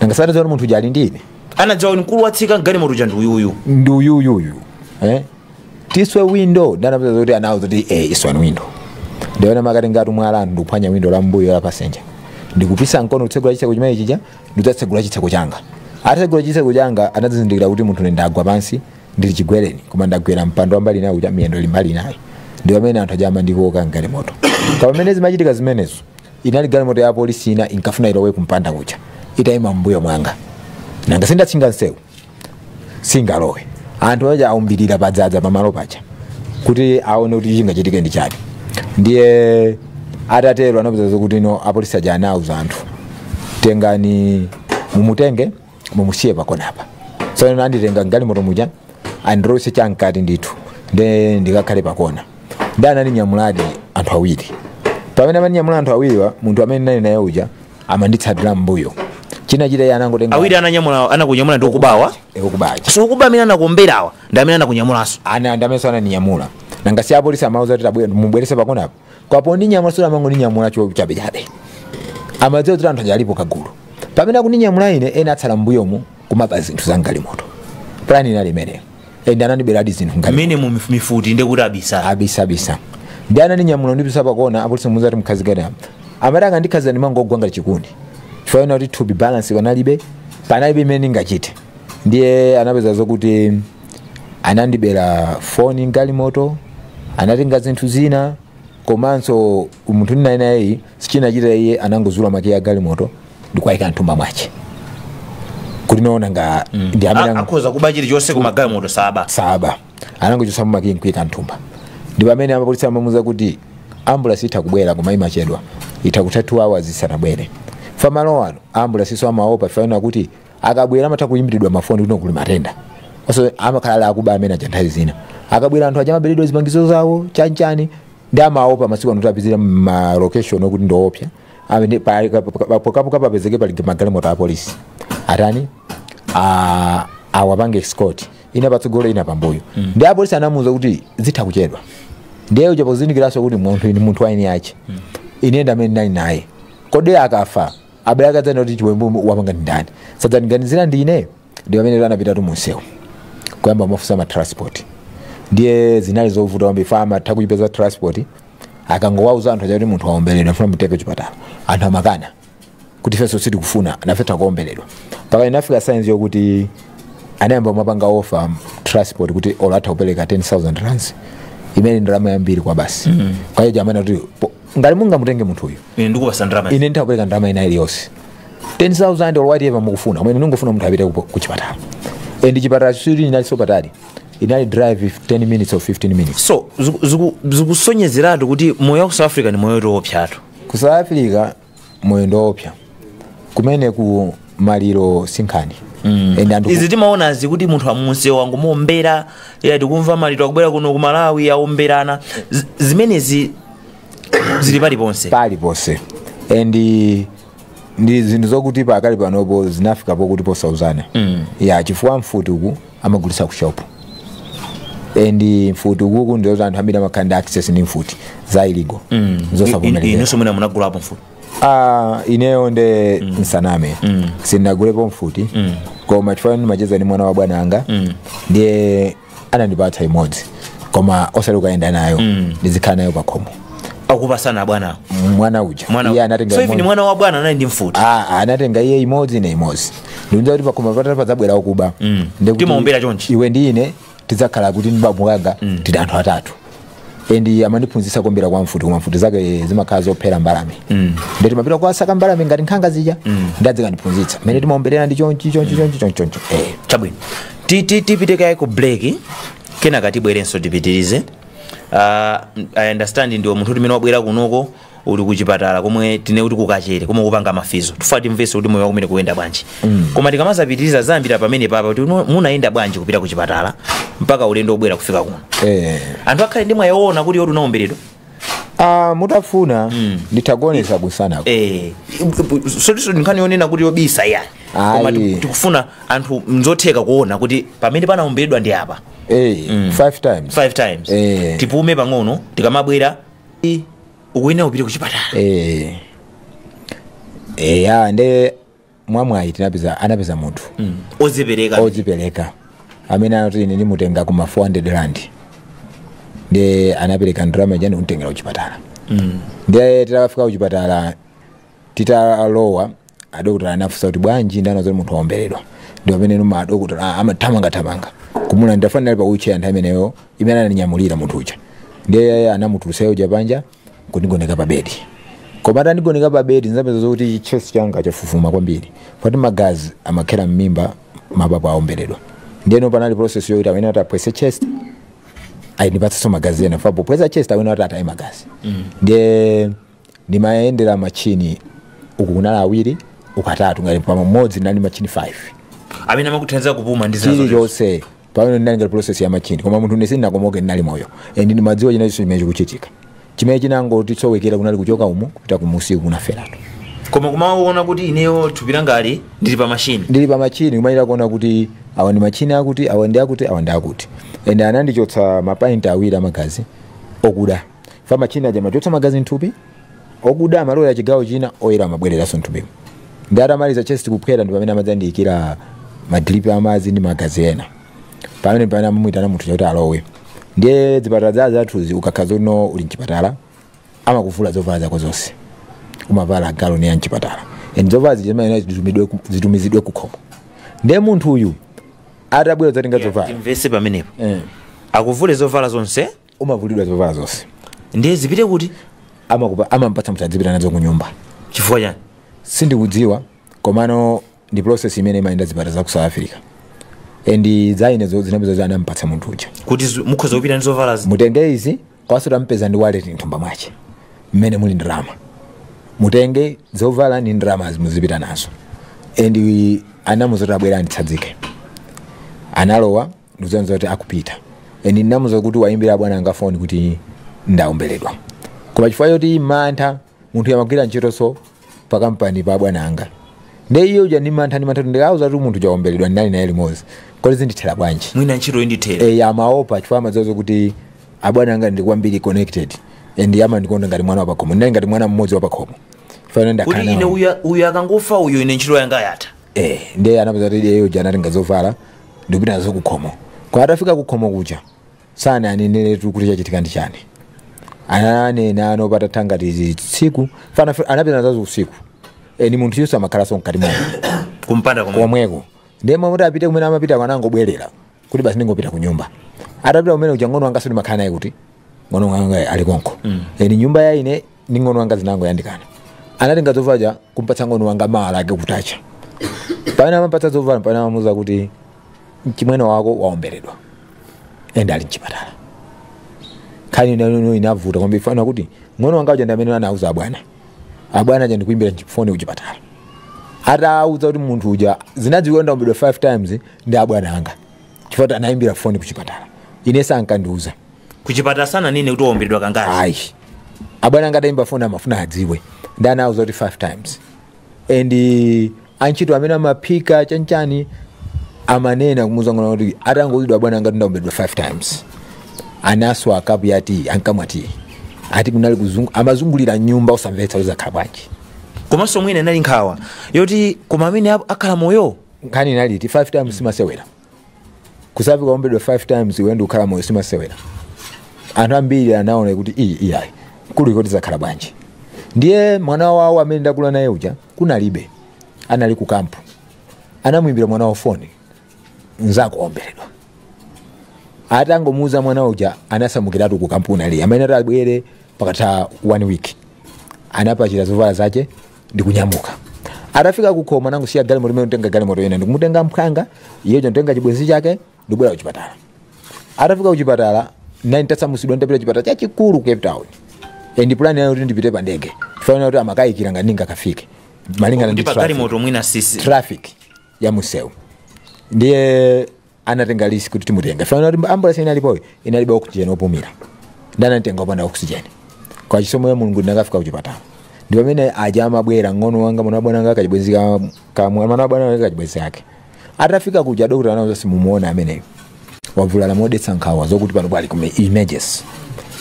nanga anaziona munthu uja ali ndi ine anadziwa kuti mkulu watsika mgalimoto uja ndi uyuyu ndi uyuyuyu eh? tiswe window nde anapeza zoti anawauza zoti eh, iswani window ndiona amakati ngati mwala anthu ndikuphwanya window la mbuyo la passenger ndikupisa mkono kutsegula chitseko chimene chija ndikudzatsegula chitseko changa atatsegula chitseko changa anadzazindikira kuti munthu ndagwa pansi ndili chigwereni koma ndagwera mpando wa mbali inayo kuti miyendo ili mbali inayo ndi pamene anthu aja amandikoka mgalimoto koma pamene zimachitika zimenezo inali galimoto ya polisi ina inkafuna ilowe kumpanda kucha itayima mbuyo mwanga nanga si ndatchinga nsewu singalowe anthu aja aunjirira padzadza pamalo paja kuti aone kuti chingachitike ndi chani ndiye atatero anapeza zokuti no apolisi aja anauza anthu tengani mumutenge mumusiye pakonapa so anditenga mgalimoto muja andilowetse chamkati ndithu nde ndikakhale pakona nde anandinyamuladi anthu awiri pamene amandinyamula anthu awiriwa munthu amene ndinali naye uja amanditsatira mbuyo chimene anachita iye anangotenga awiri ananyamula anakunyamula ndi akubawa Eh, okubacha so akuba amene anakuomberawa ndi amene anakunyamulanso ana ndi amenenso ananinyamula nanga si apolisi amauza kuti tabwe- mubweretse pakonapo koma pondinyamula suja amangondinyamula cho chabechabe amadziwa kuti anthu aja alipo kagulu pamene akuninyamula ine ena atsala mbuyomu kumaba zinthu za mgalimoto plan inali imeneyo and anandiberadi zinthu mgalimoto mmene mu mif- mifuti ndekuti abisabisa ndi ananinyamula kundipititsa pakona apolisi amuuza kuti mkhazikani apa amati akandikhazika ndimangogwa ngati chiguduli chifukwa ena kuti kupeza balance panalibe panalibe imene ndingachite ndiye anapeza zokuti anandibera foni mgalimoto anatenga zinthu zina komanso munthu ndinali nayeyu chimene anachita iye anangozula makiyi a galimoto ndikuwayika mthumba mwake kuti anaona ngati ndi amene A- ang- akhoza kuba chilichonse koma galimoto asabe asabe anangochotsa makiyi nkuika mthumba ndi pamene apolisi amamuuza kuti ambulasi itha kubwera koma imachedwa itha kutha 2 hours isanabwere chifukwa malo ano ambulasinso amaopa chifukwa ena kuti akabwera amatha kuyimbiridwa mafoni kuti kuli matenda so amakhala ali akuba amene aja nthawi zina akabwera anthu aja amaberedwa zipangizo zawo chanchani ndi amaopa masiku ano kupezeka ma location okuti ndiopsa amene pa- pa- pa- pokapoka papezeke pali magalimoto a polisi atani a- awapange escort ina patsogolo ina pambuyo ndi apolisi anamuuza kuti zitha kuchedwa ndi iyeyo uja pozindikiranso kuti munthu uyu munthu wayenda naye ine ndi amene ndinali naye kodi akafa abale ake adzanena kuti chiwembu wapanga ndi ndani si adzandiganizira ineyo ndi pamene anapitatu mumsewu kuyamba kumafunsa ma transport ndiye zinali zovuta kwambiri chifukwa amatha kuipeza transport akangowauza anthu aja kuti munthu waomberedwa ndikufuna mumutenge kuchipatala anthu amakana kuti ifenso sitikufuna nafe tikaomberedwe mpaka inafika saizi yokuti anayamba kumapanga offer transport kuti olo atha kupereka 10000 rands imene ndi ndalama yambiri kwabasi mm. iye uja amanena kuti po- ngati mungamutenge munthu uyu ine ndikupasa ndalama ine nditha kupereka ndalama ina iliyonse 10000 or whatever mukufuna koma ine ndingofuna munthu apite ku- ku chipatala and chipatala chake chinali sopatali inali drive ya 10 minutes or 15 minutes so ziku- ziku- zikusonyezeratu kuti moyo wa ku south africa ndi moyo woopsatu ku south africa moyo ndi woopsa kumene ku maliro sinkhani and anthu izi timaonazi kuti munthu pamsewu angomuombera ya tikumva maliro akubwera kuno ku malawi aomberana Z- zimenezi zili paliponse pali ponse and eh, ndi zinthu zokuti pakali panopo zinafika pokuti posauzana mm. ya chifukwa mfuti uku amagulisa ku shop and mfuti ukuku ndizoti anthu ambiri amakhala ndi access ndi mfuti za illegal mm. zosavomerezeka inenso mwina munagulapo mfuti Ah, ineyo nde mm. ndisaname mm. sindinagulepo mfuti mm. koma chifukwa ndimacheza ndi mwana wa bwana anga mm. ndiye anandipatsa imodzi koma osati ukayenda nayo mm. ndizikhala nayo pakhomo akupatsana bwana mwana uja mwana iye anatenga so even imodzi. mwana wa bwana anali ndi mfuti Ah, ah, anatenga iye imodzi ne imodzi ndikudziwa kuti pakhomo pathu padzabwera okuba Mm. Ndikuti Timaombera chonchi. iwe ndi ine tidzakhala kuti ndi bamukulu anga tili anthu atatu endi amandiphunzitsa kuombera kwa mfuti koma mfuti zake zimakhala zophera mbalame nde timapita kukasaka mbalame ngati nkhanga zija ndi adzikandiphunzitsa mmene timaomberera ndi chonchi chonchi chonchi chonchi chonchi eh. chabwino Ti- ti- tipite kaye ku break kenaka tibwerenso tipitirize uh, i understand ndiwo munthuti mmene wabwera kunoko uli kuchipatala komwe tinene kuti ku Kachere komwe ukupanga ma physio tufuna timvese kuti moyo wako mmene ukuyendera bwanji koma tikamazapitiriza zambira pamenepapa kuti uno- munayenda bwanji kupita ku chipatala mpaka ulendo obwera kufika kuno eh. anthu akhale ndi mwayi woona kuti zoti unaomberedwa ah, mutafuna nditakuonetsa kumsanako Eh, sikutinso nkhani yonena kuti yobisa yani Ayi. koma tiku- tikufuna anthu n'zotheka kuona kuti pamene panaomberedwa ndi apa eh, five times five times Eh. tipume pang'ono tikamabwera I- ukuyenera upite ku chipatala eh eh ya nde mwamwayi tinapeza anapeza munthu ozipereka odzipereka amene anati ine ndimutenga kuma 400 rand nde anapereka ndalama ija ndikunditengera kuchipatala nde titakafika kuchipatala Titalowa, adokotala anafunsa kuti, Bwanji ndinanena zoti munthu waomberedwa? Ndi pamenenu madokotala a- amathamangathamanga kumulandira fana ali pa wheelchair nthawi imeneyo imene anandinyamulira munthu uja. Ndiye anamutulutsa iye uja panja kundigoneka pa bedi. Koma atandigoneka pa bedi ndinapeza zokuti chest changa chafufuma kwambiri. Poti magazi amakhera m'mimba mapapo aomberedwa. Ndiyeno panali process yokuti mmene ataphwetse chest andipatsenso magazi ena chifukwa po- pophwetsa chest akhala ati ataye magazi ndiye ndimayendera matchini uku kunali awiri uku atatu ngati pamodzi ndinali ndi matchini 5 amene amakuthandiza kupuma ndi zina zotero. chilichonse pamenepo chinali ngati process ya matchini koma munthu ndisi- sindinakomoke ndinali moyo and ndimadziwa chinachilichonse chimene chikuchitika chimene chinangondisowekera kunali kuchoka umu kupita kumunsi kunaferatu koma kumaona kuti ineyo thupi langa ali ndili pa machini ndili pa machini kumayira kuona kuti awa ndi machini akuti awa ndi akuti awa ndi akuti and anandichotsa mapainti awiri amagazi okuda fa machini aja amachotsa magazi mthupi okuda amalowera ku chigawo china oyera amabwereranso mthupimo ndi atamaliza chest kuphwera ndi pamene anadzandiyikira madripi amadzi ndi magazi ena pamene pamene amamuyitana munthu uja kuti alowe ndiye zipatala zathuzi ukakhala kuti uli mchipatala amakuvula zovala zako zonse umavala gown ya mchipatala and zovala zija zimayenera zitumidwe ku- zitumizidwe kukhomo ndiye munthu uyu atabwera kudzatenga zovala timvese pamenepo Eh. akuvule zovala zonse umavulidwa zovala zonse ndiye zipite kuti amakupa amampatsa munthu adzipita nazo kunyumba chifukwa chani sindikudziwa komano ndi process imene imayenda zipatala za ku south africa and zaine zinapezeka kuti anampatsa munthu uja kuti zu- mukhoza kupita ndi zovala zi- mutenge izi komanso tampeza ndi wallet mthumba mwache mmene muli ndrama mutenge zovala ndi ndrama zi muzipita nazo and we- anamuza kuti abwera anditsadzike analowa ndikudziwa kuti akupita and ndinamuza kuti awayimbire abwana anga foni kuti ndaomberedwa koma chifukwa choti mantha munthu uja amagwira ntchitoso pa kampani pa abwana anga nde iye uja ndi mantha ndi mantha kuti ndikawauza kuti munthu uja waomberedwa ndinali naye limodzi kodi zindithera bwanji mwina ntchito indithere e, amaopa chifukwa amadziwa kuti abwana anga ndi kwambiri connected and amandikonda ngati mwana wapakhomo ndinali ngati mwana mmodzi wapakhomo chifukwa ine kuti ine ndakhala uyu- uyu akangofa uyu ine ntchito yanga yatha eh, ndiye anapezeka kuti iye uja anatenga zovala ndikupita nazo kukhomo kwa atafika kukhomo kuja sananenetu kuti chachitika ndi chani ananena patatha ngati izi tsiku fana anapita nazo usiku ndi munthuyonso amakhalanso mkati mwa kumpanda komwe komweko ndiye mmalo moti apite kumene amapita kuja anangobwerera kuti basi ndingopita ku nyumba atapita kumene uja mng'ono wanga sindimakhala naye kuti mng'ono wanga ali konko eni nyumba ya ine ndi mng'ono wanga zinangoyandikana anatenga zovala kumpatsa mng'ono wanga mawa lake kutacha pamene amampatsa zovala pamene amamuuza kuti mchimwene wako waomberedwa ende ali mchipatala nkhani nde ngono inavuta kwambiri fana kuti mng'ono wanga uja ndi amene anauza abwana abwana aja ndikuimbira foni kuchipatala atawauza kuti munthu uja zinadziwika ndaombeledwa 5 times ndi abwana anga chifukwa kuti anayimbira foni ku chipatala ine sankandiuza kuchipatala sananene kuti waomberedwa kangati ayi abwana anga adayimba foni amafuna adziwe ndiye anawauza kuti 5 times and eh, antchito amene amaphika chanchani amanena kumuuza mng'ono wanga kuti atangouzidwa abwana anga kuti ndaombedwa 5 times anaswa kapu ya tiyi ankamwa tiyi ati kunali kuzungu- amazungulira nyumba osamvetsa kuti zakhala bwanji komanso mwina inali nkhawa yoti koma amene ap- akhala moyo nkhani inali yoti 5 times simasewera kusafa waomberedwa 5 times iwe n'kukhala moyo simasewera anthu ambiri anaona kuti iyi iyayi kuliko zizakhala bwanji ndiye mwana wawo amene ndakula naye uja kunalibe anali ku kampu anamuimbira mwana wawo foni nzako waomberedwa atangomuuza mwana uja anasamukiratu ku kampu ndi ali amene atabwere patatha one week anapachira zovala zache ndikunyamuka atafika kukhomo anangosiya galimoto limene n'kutenga galimoto ina ndikumutenga mphwanga iyeyo n'kutenga chibwenzi chake ndikubwera kuchipatala atafika kuchipatala ndine nditasamutsidwa ndapita chipatala chachikulu ku cape town and plan yawo inali kuti ndipite pa ndege chifukwa chinali kuti amakayikira ngati ndingakafike malingana ndi ndi traffic pagalimoto mwina sisi traffic ya msewu ndiye anatenga risk kuti timutenge chifukwa choti ambulance inalipoyo inalibe oxygen opumira nde ananditenga opanda oxygen kwa chisomo cha mulungu ndinakafika kuchipatala ndi pamene aja amabwera mng'ono wanga mwana wabwana wanga kachibwenzi ka- ka- mwana wabwana wanga kachibwenzi ake atafika kuja dokota anawauza simumuona ameneyo wavulala modetsa nkhawa zokuti pano pali ku emergency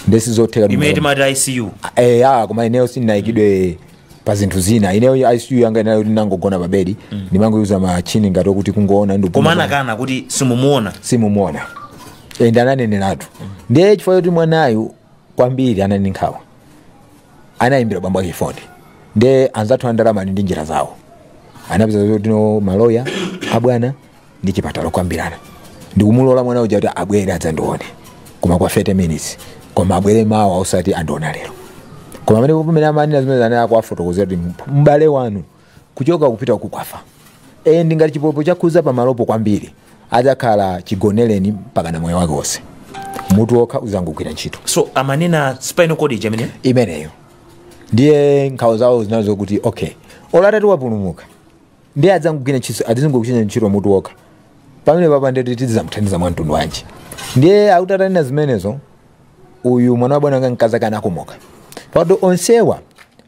nde sizotheka imene timati icu eh, ah, koma ineyo sindinaikidwe pa zinthu zina ineyo icu yanga inali yoti ndinangogona pa bedi ndimangoikidwa machini ngati okuti kungoona ndi koma anakana kuti simumuona simumuona ende ananeneratu ndiye chifukwa choti mwanayu kwambiri anali ndi nkhawa anayimbira bambo ake foni ndiye anzathu andalama ali ndi njira zawo anapeza zoti no maloya abwana ndi chipatala kukambirana ndikumulola mwana uja kuti abwere adzandione koma kwa 30 minutes koma abwere mawa osati andiona lero koma pamene pamene amanena zimenezi anali akuwafotokozera kuti m'bale wanu kuchoka kupita pakafa e ndingati chipolopolo chakhuza pamalopo kwambiri adzakhala chigonereni mpakana moyo wake wonse mutu wokha uzangogwira ntchito so amanena spinal cord ija amene imeneyo ndiye nkhawa zawo zinali zokuti okay olo atati wapulumuka ndiye adzangogwira ntchito adzingogwira ntchito mutu wokha pamenepapa ndiye titi- tidzamuthandiza mwa mtundu wanji ndiye akuti atanena zimenezo uyu mwana wa bwana wanga mkazi ake anakomoka pakuti onsewa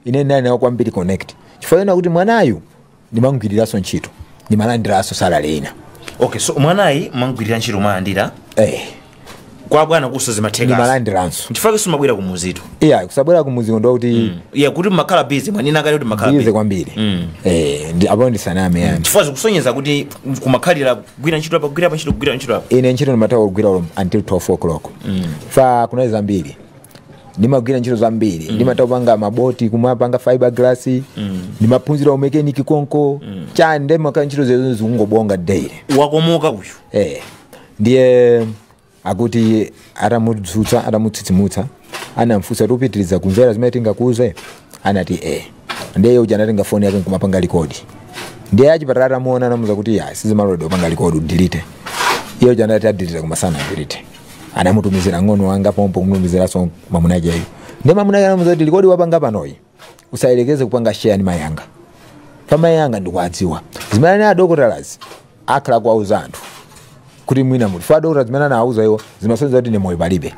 ine ndinali nawo kwambiri connect chifukwa chinali choti mwanayu ndimamgwiriranso ntchito ndimalandiranso salary ina okay so mwanayu mumamgwirira ntchito mumalandira eh. kwa bwana konso zimatheka ndimalandiranso nchifukwa simumabwera kumudzitu iya kusabwera kumudziko ndi kokuti ya kuti mumakhala busy mwanena kale kuti mumakhala ize busy kwambiri Mm. Eh, ndi- apo ndisaname yani chifukwa zikusonyeza kuti kumakhalira kugwira ntchito apa kugwira apa ntchito kugwira ntchito apa ine ntchito ndimatha kugwira olo until 12 o'clock chifukwa kunali zambiri ndimagwira ntchito zambiri ndimatha kupanga maboti kumapanga fiber glass ndimaphunzira umekeniki konko choncho nde ndimakhala ntchito zake zikungobwera daily wakomoka uyu eh ndiye akuti atamudzutsa atamutsitsimutsa anamfunsa kuti upitiriza kumvera zimene tingakuuze anati e ndiye uja anatenga foni yake nkumapanga likodi ndiye achipatala atamuona anamuuza kuti ya sizimaloledwa kupanga likodi udilite iye uja anati adilite koma sanadilite anamutumizira mng'ono wanga pompo kumutumiziranso mamunakeyo ndiye mamunake anamuuza kuti likodi wapanga panoyi usayerekeze kupanga share ndi mayi anga pa mayi anga ndikuwadziwa zimene anena adokotalazi akhala kuwauza anthu kuti mwina mufa adokotala zimene anawauza iwo zimasonyeza kuti ine moyo palibe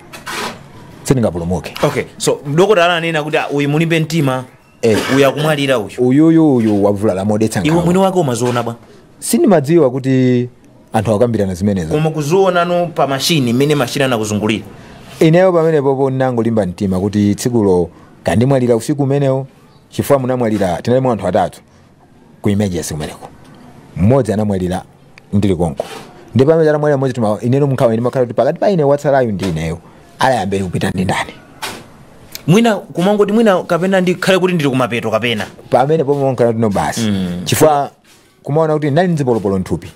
sindingapulumuke okay so dokotala ananena kuti "Ah, uyu mulibe mtima Eh. uyu akumwalira uyu uyuyu uyu wavulala modetsa nkhawa iwe mwini wake umaziona bwa sindimadziwa kuti anthu akukambirana zimenezo koma kuzionano pa mashini mmene mashini anandizungulira ineyo pamenepopo ndinangolimba mtima kuti tsikulo kaya ndimwalira usiku umenewo chifukwa munamwalira tinalimo anthu atatu ku emergency kumeneko mmodzi anamwalira ndili konko ndi pamene anamwalira mmodzi tuma ineno nkhawa imakhala kuti pakati pa ine watsalayu ndi ineyo ayambe kupita ndi ndani mwina kumangoti mwina kapena ndikhale kuti ndili kumapeto kapena pamenepo nkhawa tinali nayo basi chifukwa kumaona kuti ndinali ndi zipolopolo mthupi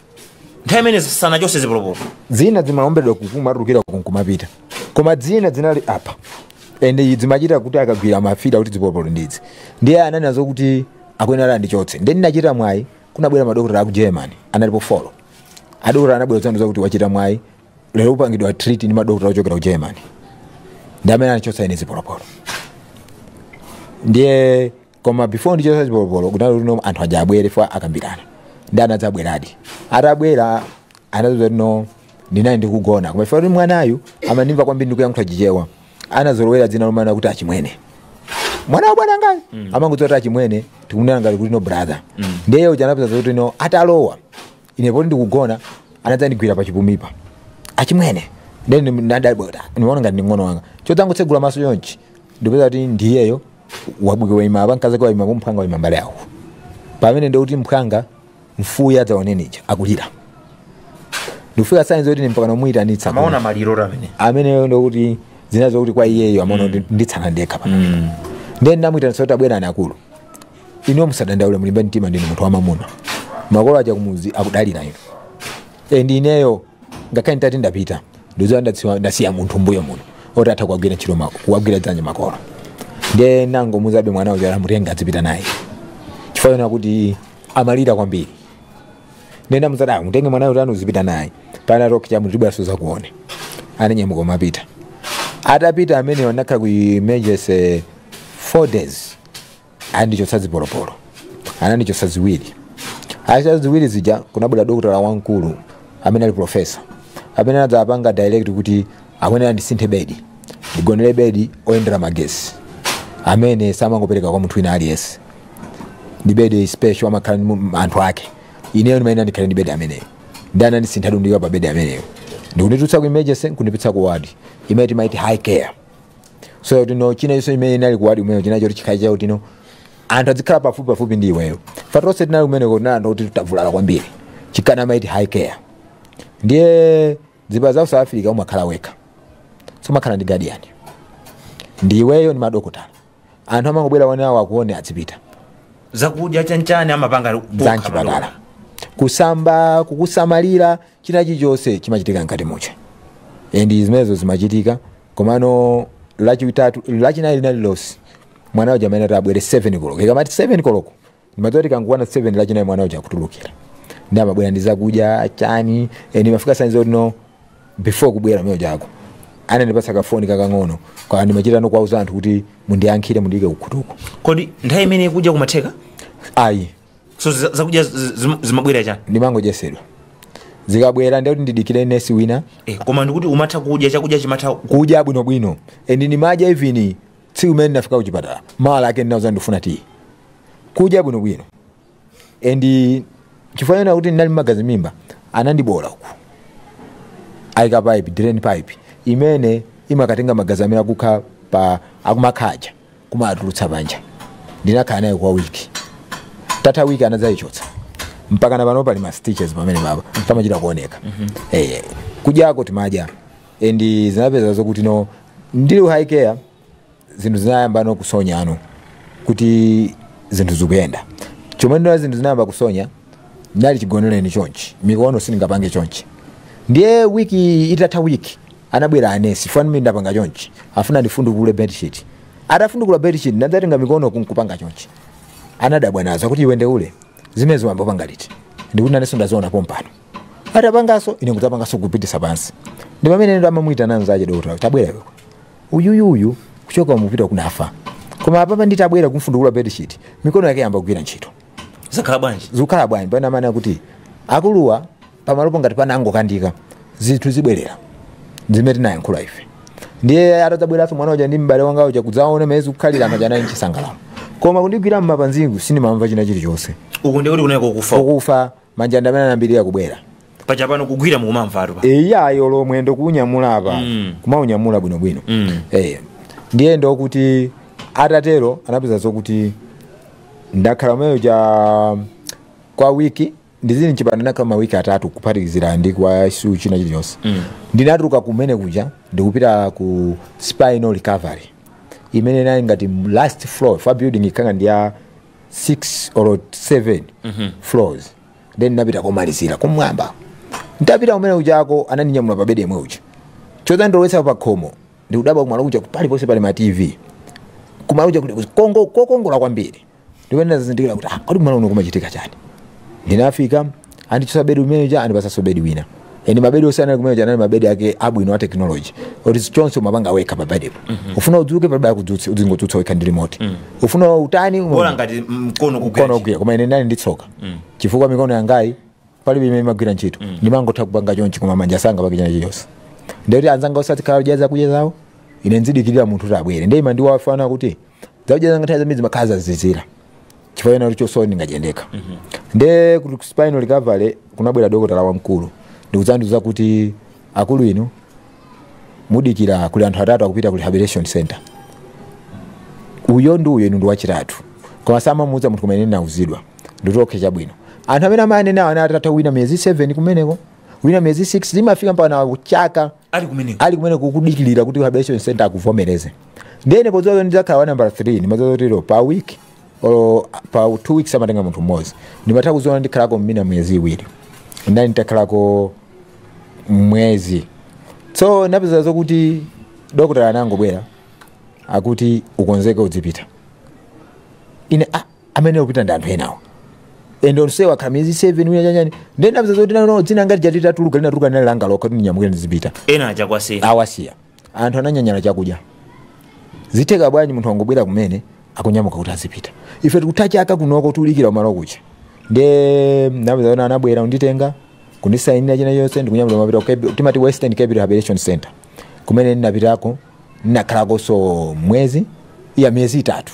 nthawi imene sanachotse zipolopolo zina zimaombedwa nkumatulukira nkumapita koma zina zinali apa ende zimachita kuti akagwira amafila kuti zipolopolo ndi izi ndiye ananena zokuti akuyenera andichotse ndiye ndinachita mwayi kunabwera madokotala aku germany analipo folo adokotala anabwera kudzandiuza kuti wachita mwayi lero upangidwa treat ndi madokotala ochokera ku germany ndi amene anachotsa ine zipolopolo ndiye koma before ndichotsa chipolopolo kunali kuti no anthu aja abwere fo akambirana ndi anadzabweradi atabwera anadzauza kuti no ndinali ndikugona koma ife kuti mwanayu amandimva kwambiri ndikuyankhula chichewa anazolowera dzina lomana kuti achimwene mwana wa bwana ngayo mm. amangodziwa kuti achimwene tikunena ngati kuti no brother mm. ndiye uja anapeza kuti no atalowa ine poti ndikugona anadzandigwira pachipumipa achimwene ndiye ndinadabwa ndiona ngati ndi mng'ono wanga chodzangotsegula maso chonchi ndipeza kuti ndiyeyo wabwera waima apa mkazake waima apo mphwanga waima mbali yawo pamene ndikuti mphwanga mfuya ataonenija akulira ndikupika sainzi kuti mpakana ndimuyitanitsa amaona maliro oti amene ameneyo ndikuti zina zokuti kwa iyeyo amaona kuti nditsala ndekha pano ndiye ndinamuyitanitsa kuti tabwerani akulu inu musadandaule mulimbe mtima ndinu munthu wamamuna makolo aja kumudzi akudalira inu ndi ineyo ngakhale nditati ndapita ndizoya ndadziwa ndasiya munthu mbuyo muno oti atha kuwagwira ntchito ma- kuwagwira dzanja makolo nde ndinangomuuzabe mwana uja amutenge adzipita naye chifukwa choona kuti amalira kwambiri ndinamuuza mutenge mwana uja uzipita naye pana kukacha mudzabwerenso mudzandione ananyamuka nkumapita atapita ine ndinakhala ku emergency 4 days anandichotsa zipolopolo anandichotsa ziwiri atachotsa ziwiri zija kunabwera dokotala wamkulu amene ali profesa amene anadzapanga direct kuti akuyenera andisinthe bedi ndigonere bedi oyendera magesi amene samangopereka kwa munthu wina aliyense ndi bedi special amakhala ndi mu- anthu ake ineyo ndimayenera ndikhale ndi bedi ameneyo nde anandisintha nkundiika pa bedi ameneyo ndikunditulutsa ku emergency nkundipititsa ku ward imene timaiti high care so kuti no china chonse chimene inali ku wadi kumeneko china choti chikhale chakuti no anthu adzikhala pafupi pafupi ndi iweyo chifukwa tonse tinali kumeneko tinali anthu kuti tavulala kwambiri chifukwa amaiti high care ndiye zipatala za ku south africa umakhala wekha sumakhala ndi guardian ndi iweyo ndi madokotala anthu amangobwera ma hour awo akuone adzipita zakudya chanchani amapanga okha za mchipatala madokotala. kusamba kukusamalira china chilichonse chimachitika mkati mwa chipatala and zimenezo zimachitika komano lachitatu lachinayi lina lililonse mwana uja amene azabwere 7 koloko ikamati 7 koloko ndimadziwa kuti kangwana 7 lachinayi mwana uja akutulukira ndi amabwera ndi zakudya chani eni mafika sanzo no before kubwera mwana uja ako anandipatsa kafoni kakang'ono kwa ndimachita no kuwauza anthu kuti mundiyankhire mundiyike kukhutuko kodi nthawi imeneyo kudya kumatheka ayi so za- zakudya zi- zi- zimabwera chani ndimangodyetsedwa zikabwera ndekuti ndidikire nesi wina Eh, koma ndikuti umatha kudya chakudya chimatha kudya bwinobwino and ndimadya even tsiku limene ndinafika kuchipatala mawa lake ndinauza ndifuna tiyi kudya bwinobwino and chifukwa china kuti ndinali ndi magazi mmimba anandibola uku anaika pipe drain pipe imene imakatenga magazi amene akukha paja akumakha paja kumawatulutsa panja ndinakhala nayo kwa wiki itatha wiki anadzayichotsa mpaka napano pali ma stitches pamenepo pamachita kuoneka eh kudyako timadya and zinapeza zokuti no ndili ku high care zinthu zinayamba no kusonyano kuti zinthu zikuyenda chomwe ndina zinthu zinayamba kusonya ndinali chigoneleni chonchi mikono sindingapange chonchi ndiye wiki itatha wiki anabwera anesi mmene ndapanga chonchi afuna andifundukule bedsheet atafundukula bedsheet ndinadzatenga mikono nkupanga chonchi anadabwa nazo kuti iwe ndiye zimenezo wayamba kupanga liti ndikuti nanenso ndaziona pompano tapanganso ine kudzapanganso kupititsa pansi ndi pamene no amamuyitana nzache dokotala tabwera iwe uyuyu uyu kuchoka umu kupita uku kunafa koma apapa nditabwera kumfundukula bedsheet mikono yake yayamba kugwira ntchito zakhala bwanji zikukhala bwanji paja amanena kuti akuluwa pamalopo ngati panangokandika nde zinthu zibwerera zimene tinayankhula ife ndiye atadzabweranso mwana uja ndi m'bale wanga uja kudzaona mmene zikukhalira anthu anali mchisangalalo koma kundigwira m'mapazi uku sindimamva china chilichonse uku ndikuti kuneko kunafa uku manja ndi amene anayambirira kubwera paja pano kugwira mukumamvatu pa eyayo lomwe ndikuunyamula apa Mm. kumaunyamula bwinobwino Mm. Eh, ndiye ndokuti ntatero napeza zokuti ndakhala umeyo cha kwa wiki ndizili mchipinda ndakhala mawiki atatu kuphatikizira ndi ku ICU china chilichonse Mm. ndinatuluka kumene kuja ndikupita ku spinal recovery imene inali ngati last floor of a building ikhala ndi ya 6 or 7 floors then napita komalizira kumwamba ntapita kumene kujako anandinyamula pa bedi yemwe uja chodzandilowetsa pa khomo ndikudabwa kumalo kuja paliponse pali ma tv kumalo kuja kuli kokongola kwambiri ndipo ndinazindikira kuti ah, kodi kumalo kuno kumachitika chani ndinafika andichotsa bedi umene uja andipatsanso bedi wina ende mabedi onse anali kumene kuja anali mabedi ake abwino a technology oti chonse umapanga wekha pa bedipo ufuna udzuke palibe akudzutse uzingodzutsa wekha ndi remote ufuna utani uma- bola ngati mkono ukugwira mkono ogwira koma ine ndinali ndi tsoka chifukwa mikono yangayi palibe imene imagwira ntchito ndimangotha kupanga chonchi koma manja sangapange china chilichonse ndikuti anzanga onse azikhala akudya zakudya zawo ine nzidikirira munthu kuti abwere ndiye imandiwawa kuti zakudya zanga nthawi zambiri zimakhala zazizira chifukwa chonena kuti sindingadye ndekha nde ku spinal recovery kunabwera dokotala wamkulu ndikudzandiuza kuti akulu inu mudikira kuli anthu atatu akupita ku rehabilitation center uyo ndi uyo inu ndi wachitatu koma samamuuza munthu kumene nauzidwa ndikuti okhe chabwino anthu amene amayanena anali atatha wina miyezi 7 kumeneko wina miyezi 6 zimafika mpaka na chaka ali kumeneko kudikirira kuti rehabilitation center akuvomereze ndiye ine podziwa kuti ndidzakhala wa nambala 3 ndimadziwa kuti lero pa week or pa two weeks amatenga munthu mmodzi ndimatha kuziona ndikhalako mwina miyezi iwiri nali nditakhalako mwezi so napeza zokuti dokotala anangobwera akuti ukonzeke udzipita ine ah, amene akupita ndi anthu enawo ende onsewa akhala miyezi 7 wina chanyani ndiye ndapeza zoti nano dzina ngati lija litatuluka linatuluka linali langa lokha kuti ndinyamukire ndizipita ena aja kuwasiya awasiya anthu ananyanyala chakudya zitheka bwanji munthu wangobwera kumene akunyamuka kuti azipita ife tikutha chaka kunoko tikudikira kumalo kuja nde ndapeza kuti anabwera kunditenga kundisayinira china chonse ndikunyamula napita ku Cape- timati Western Cape rehabilitation center kumene ndinapitako ndinakhalakonso mwezi eya miyezi itatu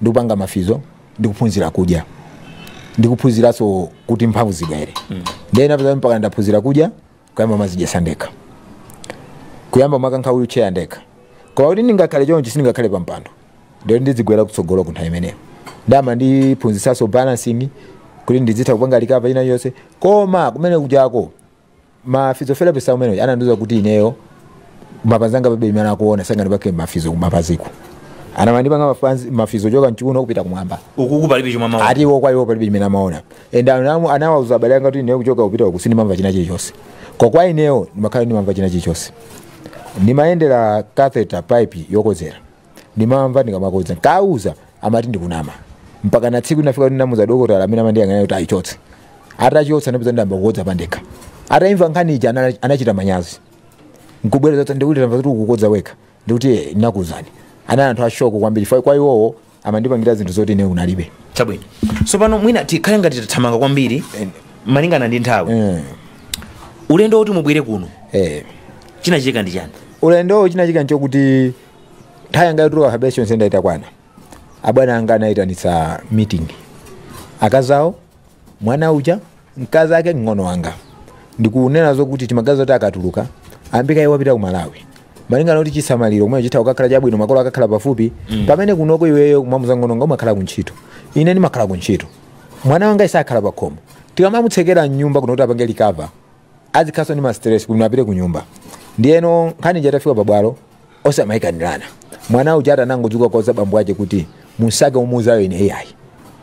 ndikupanga ma physio ndikuphunzira kudya ndikuphunziranso kuti mphamvu zibwere mm. ndiye napeza mpaka ndaphunzira kudya kuyamba kumadzidyetsa ndekha kuyamba kumakankha wheelchair ndekha koma kuti ndingakhale chonchi sindingakhale pa mpando ndiye ndidzigwera kutsogolo ku nthawi imeneyo nde amandiphunzitsanso balancing kuti ndidzitha kupanga likapa ina yonse koma kumene kujako ma physiotherapist amene anandiuza kuti ineyo mapazi anga palibe chimene akuona sangandipange mafizo kumapaziku anamandipanga mapazi- mafizo kuchoka mchiuno kupita kumwamba ukuku palibe chomwe amaona ati iwo kwa iwo palibe chimene amaona and anamu- anawauza abale anga kuti ineyo kuchoka kupita uku sindimamva china chilichonse koma kwa ineyo ndimakhala ndimamva china chilichonse ndimayendera catheter pipe yokozera ndimamva ndikamakodza ndikawauza amati ndikunama mpaka na tsiku linafika kuti ndinamuuza dokotala amene amandiyang'anira kuti ayichotse atachotsa ndipeza ndiyamba kukodza pandekha ataimva nkhani ija anala- anachita manyazi nkubweranso ndikuti tamva kuti ukukodza wekha ndikuti "Eh, ndinakuuzani anali anthu ashoko kwambiri fa- kwa iwowo amandipangira zinthu zoti ine analibe chabwino tsopano mwina tikhale ngati tathamanga kwambiri malingana ndi nthawi Eh, ulendo woti mubwere kuno eh. chinachitika ndi chani ulendowo chinachitika nchokuti nthawi yanga yotuluka rehab center itakwana abwana anga anayitanitsa meeting akazi awo mwana uja mkazi ake mng'ono wanga ndikunena zokuti timaganiza zoti akatuluka ambika iye wapita ku malawi malingana kuti chisamaliro kumene chitha kukakhala chabwino makolo akakhala pafupi pamene kunoko iweyo mwamuuza mng'ono wanga umakhala ku ntchito ine ndimakhala ku ntchito mwana wanga sakhala pakhomo tikamamutsekera mnyumba kuno kuti apange recover azikhaso ndi mastress kuti apite kunyumba ndiyeno nkhani ija itafika pabwalo onse amayikanirana mwana uja anangodzuka kuwauza bambo ache kuti mupite mumuuze ine iyayi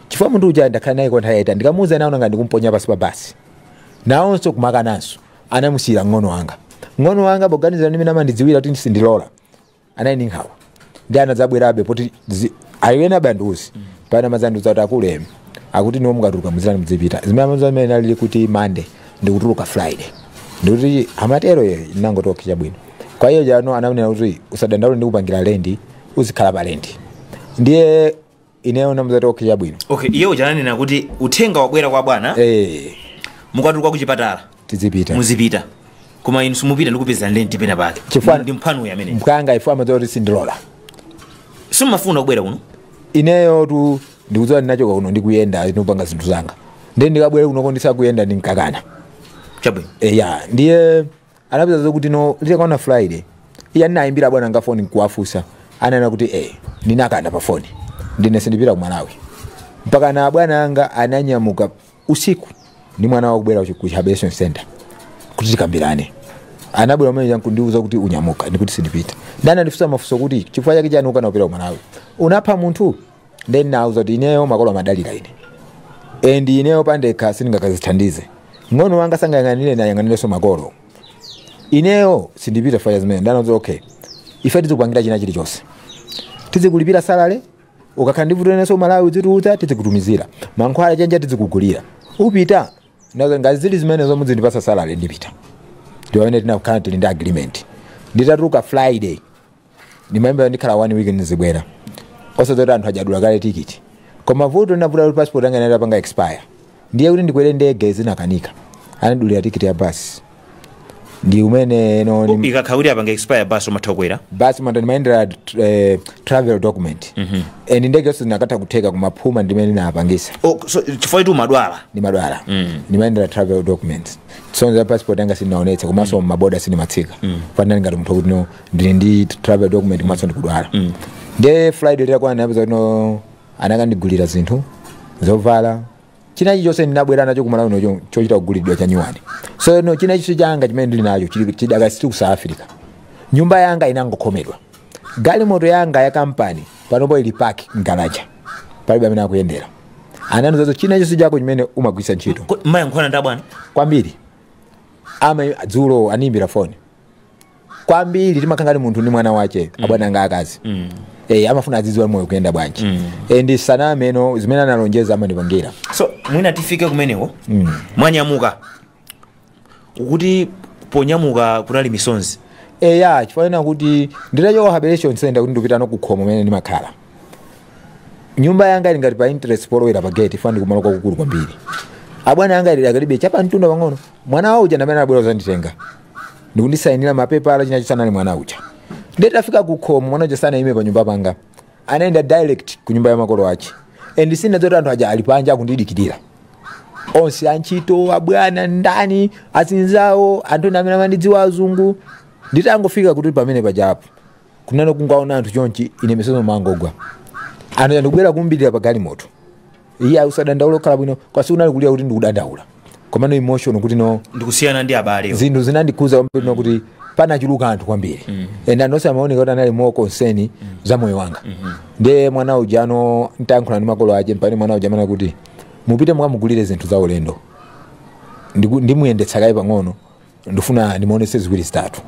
chifukwa munthu uja ndakhala naye kwa nthawi yaitali ndikamuuza naona ngati ndikumponya pansi pa basi nawonso kumakananso anamusiyira mng'ono wanga mng'ono wanga poganizira ndimene amandidziwira kuti sindilola anali ndi nkhawa ndiye anadzabwerabe poti zi- ayo ena banduzi pana amadzandiuza kuti akulemi akuti inuyo mukatuluka muzirani mudzipita zimene amazo amene nalili kuti monday ndikutuluka friday ndikuti amatero ine ndinangoti okay chabwino kwa iye ujano ananena kuti usadandaule ndikupangira lendi uzikhala pa lendi ndiye ineyo ndinamuuza kuti okay chabwino okay iye uja ananena kuti uthenga wabwera kwa bwana eh mukatuluka ku chipatala tizipita muzipita koma inu simupita ndikupezerani lendi pena pake Chifukwa- ndi mphwanuyu amene mphwanga chifukwa amadziwa kuti sindilola simumafuna kubwera kuno ineyo tu ndikudziwa ndinachoka kuno ndikuyenda ndikupanga zinthu zanga ndiye ndikabwere kunoko ndisakuyenda ndinkakana chabwino eya ndiye anapeza zokuti no litakwana friday ine ndinayimbira abwana anga foni nkuwafunsa ananena kuti eh ndinakana pa foni kuti ine sindipita ku malawi mpaka na bwana anga ananyamuka usiku ndi mwana wawo kubwera ku rehabilitation center kuti tikambirane anabwera mwini wake nkundiuza kuti unyamuka ndikuti sindipita ndiye anandifunsa mafunso kuti chifukwa chake chani ukukana kupita ku malawi unapha munthu nde ndinawuza kuti ineyo makolo amadalira ine and ineyo pandekha sindingakadzithandize mng'ono wanga sangayang'anire nayang'anireso makolo ineyo sindipita faya zimene ndanenazo okay ife tizikupangira china chilichonse tizikulipira salale ukakhala ndi vuto neso malawi udzitiuza tizikutumizira mankhwala chenja tizikugulira upita nazo ngati zili zimenezo mudzindipasa salale ndipita ndi mmene tinakhala tili ndi agreement nditatuluka friday ndimayembekezera ndikhala one week ndizibwera osati kuti anthu aja adula kale tikiti koma vuto linavuta kuti passport yanga inali itapanga expire ndiye kuti ndikwere ndege zinakanika anadulira tikiti ya basi ndi mmene no ndi- ikakhala kuti apanga expire basi umathokwera basi manda ndimayendera eh, travel document and ndege yonse zinakatha kutheka kumaphuma ndimene ndinapangisa Oh, so chifukwa kuti umadwala ndimadwala ndimayendera travel documents so za passport yanga sindinaonetsa komanso maboda sindimatsika fanani ngati munthu kuti no ndili ndi travel document komanso ndikudwala nde friday litakwana ndinapeza kuti no anakandigulira zinthu zovala china chilichonse ndinabwera nacho kumalawi ndi chochita kugulidwa chanyuwani so no china chilichonse changa chimene ndili nacho chili- chidakasiti ku south africa nyumba yanga inangokhomedwa galimoto yanga ya kampani panopo ili park mu garage palibe amene akuyendera ananizazo china chilichonse chako chimene umagwiritsa ntchito Ko- mumayankhulana ndi abwana kwambiri ama dzulo animbira foni kwambiri timakhala ngati munthu ndi mwana wache abwana anga akazi Eh, amafuna azidziwa moyo ukuyenda bwanji Eh, ndi saname no zimene analonjeza amandipangira so mwina tifike kumeneko mwanyamuka mukuti ponyamuka kunali misonzi eya chifukwa ena kuti nditachoka rehabilitation center kuti ndikupita ano kukhomo komwe ndimakhala nyumba yanga ili ngati pa entrance polowera pa gate ifana ndikumalo kwakukulu kwambiri abwana anga ili akali be chapa mtunda pang'ono mwana wawo uja ndamene anabwera kuzanditenga ndikundisayinira mapepala china chilichonse anali mwana uja ndiye tafika ku khomo mwana uja sanayime pa nyumba panga anayenda direct ku nyumba ya makolo ache and sindinadziwe zoti anthu aja ali panja akundidikirira onse antchito abwana ndi azinzawo anthu ena amene amandidziwa azungu nditangofika kuti pamene pajapo kunano kungoona anthu chonchi ine misozi imangogwa anthu aja ndikubwera kuthamangira pa galimoto iyayi usadandaula ukhala bwino koma sikunali kulira kuti ndikudandaula komano emotion kuti no ndikusiyana ndi abale zinthu zinandikhuza kwambiri no kuti panachuluka anthu kwambiri and onse amaoneka kuti anali more concern za moyo wanga ndiye mwana uja ano atayankhula ndi makolo ache mpamene mwana uja amanena kuti mupite mukamugulire zinthu za ulendo Ndiku- ndimuyendetsa kaye pang'ono ndifuna ndimuonetse ziwiri zitatu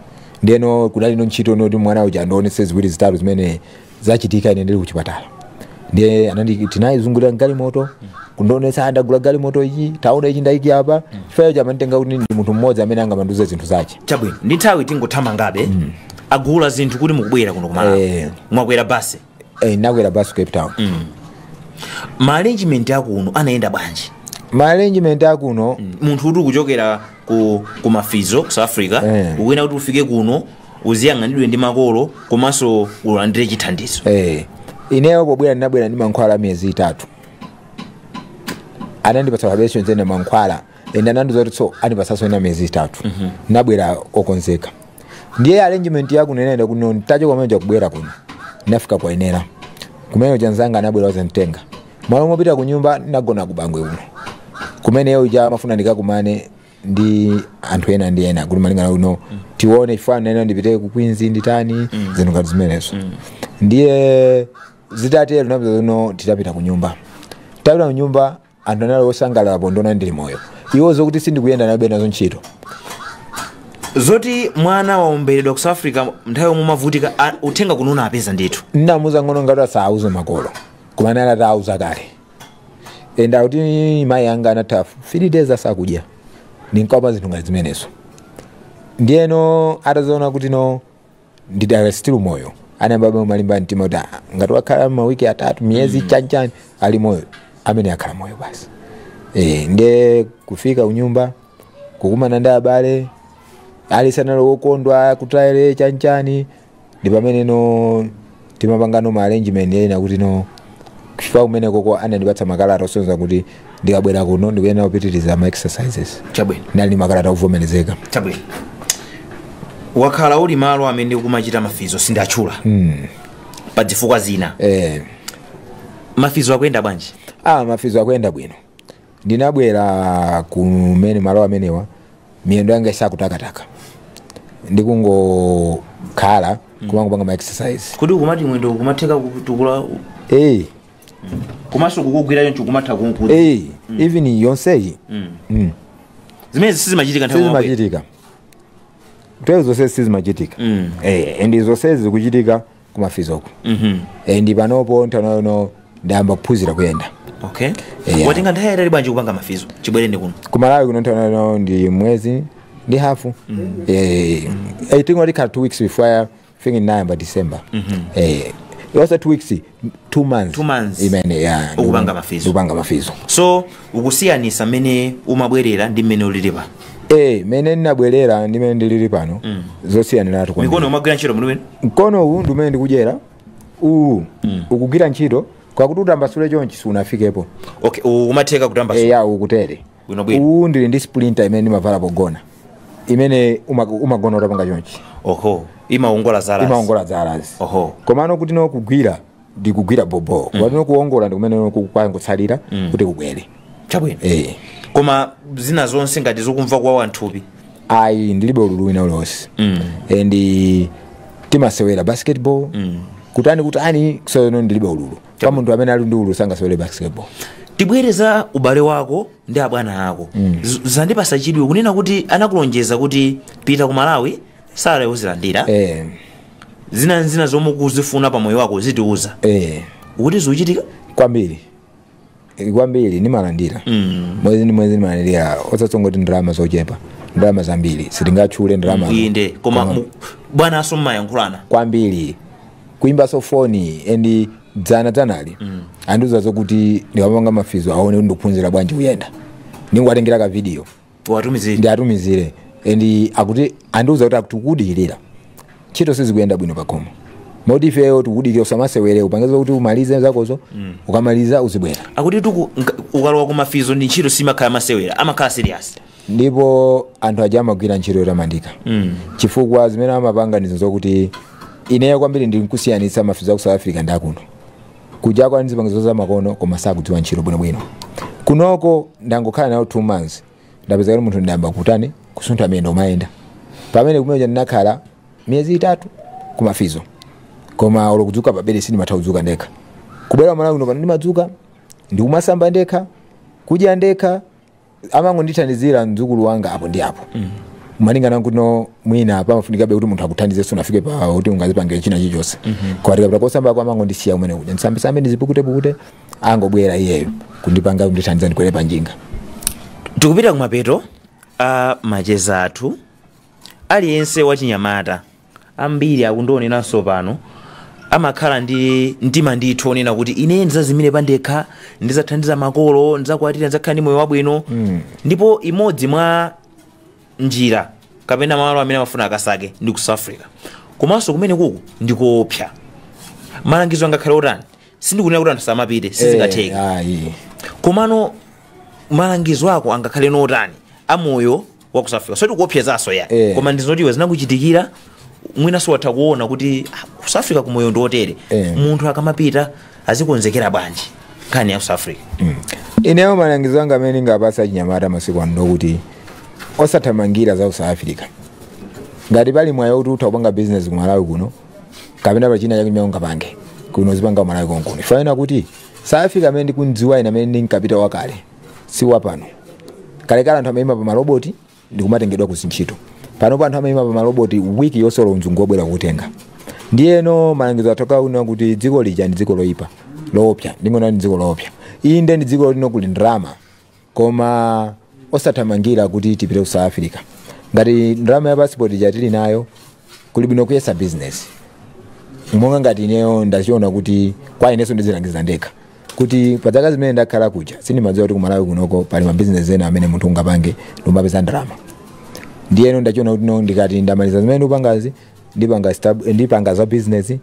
ndiyeno kunali no ntchito yoti mwana uja andionetse ziwiri zitatu zimene zachitika ine ndili kuchipatala ndiye anandi tinayizungulira galimoto kundionetsa "Ah, ndagula galimoto iyi taona ichi ndaika apa chifukwa icho amanditenga kuti ndi munthu mmodzi amene angamandiuze zinthu zache chabwino ndi nthawi tingothamangako agula zinthu kuti mukubwera kuno kumalawi Eh. mwakwera basi eh, nakwera bus cape town ma arrangement akuno anayenda bwanji ma arrangement akuno munthu kuti kuchokera ku, ku mafizo ku south africa Eh. ukuyenera kuti ufike kuno uziyang'anidwe ndi makolo komanso ulandire chithandizo eh, ineyo pobwera ndinabwera ndi mankhwala a miyezi itatu anandipatsa apereshoni zene mankhwala ende anandiuza kuti so anipatsanso ena miyezi itatu nabwera okonzeka ndiye arrangement yakuno inaenda kuno nditachoka kumene kuja kubwera kuno ndinafika kwa Wenela kumene anzanga anabwera kudzanditenga malo mopita ku nyumba ndinagona ku bangwe kuno kumene yeo ija ndimafuna ndikakumane ndi anthu ena ndi ena kuti maplan awo no tione chifukwa nena ndipite ku Queens nditani zinthu ngati zimenezo ndiye zitatero ndinapezano titapita ku nyumba tapita ku nyumba anthu anali osangalala pondiona ndili moyo iwo zokuti sindikuyenda analibe nazo ntchito zoti mwana wawomberedwa ku south africa nthawi yomwe umavutika a- uthenga kuno unapeza ndithu ndinamuuza mng'ono wanga kuti asauze makolo koma anali atauza kale ende akuti mayi anga anatha three days asakudya ndinkaopa zinthu ngati zimenezo ndiyeno atazaona kuti no ndidakali still moyo anayamba kumalimba mtima kuti "Ah, ngati wakhala mawiki atatu miyezi mm. chanchani ali moyo ameneyu akhala moyo basi e, nde kufika kunyumba kukumana ndi abale aliyense anali wokondwa kuchezera chanchani ndi pamene no timapangano ma arrangement ena kuti no kuchipatala kumenekoko anandipatsa makalata osonyeza kuti ndikabwera kuno ndikuyenera kupitiriza ma exercises chabwino nali ndi makalata akuvomerezeka chabwino wakhala uli malo amene ukumachita mafizo sindatchula mm. pa zifukwa zina eh, mafizo akuyenda bwanji ah, mafizo akuyenda bwino Ndinabwera kumene malo amenewa miyendo yanga isakutakataka ndikungokhala kumangopanga ma exercise kuti ukumati mwendo ukumatheka kutukula hey, komanso kukugwira choncho kumatha kumkweza hey, even zonsezi mm. zimene sizimachitika nthawi yomwe. sizimachitika nthawi zonse sizimachitika Mm. Eh, and zonsezi zikuchitika kumafizoko Mhm. and panopo nthawi ino ndayamba kuphunzira kuyenda okay Yeah. watenga nthawi yatali bwanji kupanga mafizo chibwereni kuno ku malawi kuno nthawi ino ndi mwezi ndi hafu Eh, i think tatikhala two weeks before I think ndinayamba december Eh, so two weeks two months Two months. imene ya Ukupanga mafizo. ukupanga mafizo so ukusiyanisa mmene umabwerera ndi mmene ulili pano eh mene ndinabwerera ndi mene ndilili pano mm. zosiyaniratu kwambiri. mikono umagwira ntchito muno mene mkono uwu ndi umene ndikudyera uwu mm. ukugwira ntchito kwakuti utambasule chonchi sunafikepo okay u- umatheka kutambasula ukutere Bwino bwino. uwu ndili ndi splinter imene ndimavala pogona imene uma- umagona utapanga chonchi oho imaongola zala imaongola zalazi oho komano kuti no kugwira ndikugwira bobo koma no kuongola ndikumene kwangotsalira kuti kubwere chabwino eh koma zina zonse ngati zokumva kuwawa nthupi ayi ndilibe ululu wina uliwonse and eh, timasewera basketball kutani kutani so no ndilibe ululu koma munthu amene ali ndi ululu sangasewere basketball tibwere za ubale wako ndi abwana ako Z- zandipasa chidwi kunena kuti anakulonjeza kuti pita ku malawi salary uzilandira eh zina ndi zina zomwe ukuzifuna pa moyo wako uzitiuza eh kodi zikuchitika kwambiri Eh, kwambiri nimalandira mm. mwezi ni mwezi nimalandira osatso ngati ndalama zochepa ndalama zambiri sitingatchule ndalama inde koma mu- bwanaso mmayankhulana kwambiri kuimbaso foni and dzana dzanali mm. andiuza zokuti ndikamapanga mafizo aone kuti ndikuphunzira bwanji kuyenda ndiziwatengera ka video watumizire ndiatumizire and akuti andiuza kuti akutikudikirira ntchito sizikuyenda bwino pakhomo moti ifeyo tikudikira usamasewere upange zakuti umalize zakozo ukamaliza uzibwera akuti tuku nka- ukalowa ku mafizo ndi ntchito simakhala masewera amakhala serious ndipo anthu aja amagwira ntchito yotamandika mm. chifukwa zimene amapanga ndizo zokuti ineyo kwambiri ndikusiyanitsa mafizo aku south africa ndi akuno kuja kuli ndi zipangizo za makono koma sakudziwa ntchito bwinobwino kunoko ndangokhala nawo two months ndapeza kuti munthu ndayamba kutani kusuntha miyendo umayenda pamene kumene kuja ndinakhala miyezi itatu kumafizo koma olo kudzuka pabedi sindimatha kudzuka ndekha kubwera malawi kuno pano ndimadzuka ndikumasamba ndekha kudya ndekha amangondithandizira mdzukulu wanga apo ndi apo malingana nkuti mwina pamafunikabe kuti munthu akuthandize sunafike pa kuti ungazipangire china chilichonse koma tikapita kosambako amangondisiya kumene kuja ndisambisambe ndizipukutepukute angobwera iyeyo kundipanga kundithandiza ndikwere pa njinga tikupita kumapeto a macheza athu aliyense wachinyamata ambiri akutioneranso pano amakhala ndi mtima ndithu onena kuti ine ndizazimire pandekha ndizathandiza makolo ndizakwatira ndizakhala ndi moyo wabwino ndipo imodzi mwa njira kapena malo amene amafuna akasake ndi ku south africa komanso kumene kuku ndikoopsa malangizo angakhale otani sindikunena kuti anthu asamapite sizingatheke Eh, ayi. komano malangizo ako angakhale otani amoyo wa ku south africa soti kuopsezanso ya Eh. koma ndizoti iwe zinakuchitikira mwinaso watha kuona kuti ah, ku south africa umoyo ndi otere Eh. munthu akamapita azikonzekera bwanji nkhani ya ku south africa ineyo malangizo anga amene ndingapase achinyamata masiku ano ndokuti osathamangira za ku south africa ngati pali mwayi kuti utha kupanga business ku malawi kuno kapena pali china chake ungapange kuno zipanga ku malawi konkuno fanena kuti south africa amene ndikudziwa ine amene ndinkapita wakale si wapano kalekale anthu amayima pa maloboti ndikumatengedwa ku zintchito panopo anthu amayima pa maloboti wiki yonse olo mzungu wobwera kutenga ndiyeno malangizo atoka uno kuti dziko lija ndi dziko loyipa loopsa ndingonena ndi dziko loopsa inde ndi dziko lino kuli ndalama koma osathamangira kuti tipite ku south africa ngati ndalama ya passport ija tili nayo kuli bwino kuyesa business monga ngati ineyo ndachiona kuti kwa ineso ndizilangiza ndekha kuti pa zaka zimene ndakhala kuja sindimadziwa kuti kumalawi kunoko pali mabizinesi ena amene munthu ungapange ndikumapeza ndalama ndiyeno ndachiona kuti no ndikati ndamaliza zimene ndikupangazi ndipanga stab- ndipanga za business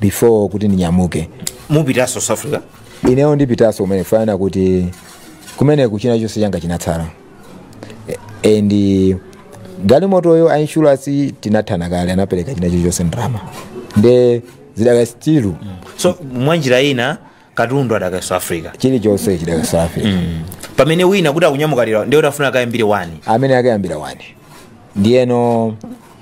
before kuti ndinyamuke mupitaso south africa ineyo ndipitaso kumene fanana kuti kumeneku china chonse changa chinatsala E- and galimotoyo a insurance tinathana kale anapereka china chilichonse ndalama nde zidakali still so mwanjira ina katundu adakali south africa chilichonse chidakali south africa mm. pamene wina kuti akunyamuka lero ndiye kuti afuna akayambire wani amene akayambira wani ndiyeno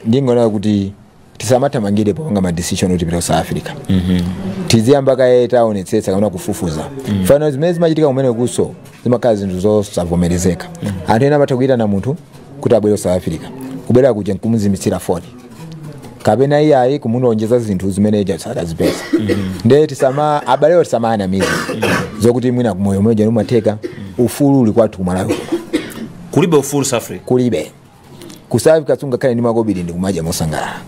ndingonena kuti tisamathamangire popanga madecision kuti tipita ku south africa mm -hmm. tiziyamba kaye taonetsetsa kapena kufufuza mm -hmm. fano zimene zimachitika kumenekoso zimakhala zinthu zosavomerezeka mm -hmm. anthu ena amatha kuyitana munthu kuti abwere ku south africa kubwera kuja nkumuzimitsira foni kapena iyayi kumulonjeza zinthu zimene uja sadazipeza nde tisama abalewo tisamawanamize zokuti mwina umoyo muja umatheka ufulu uli kwathu kumalawi kulibe ufulu south africa kulibe ku south africa sungakhale ndi makobiri ndi kumadya mosangalala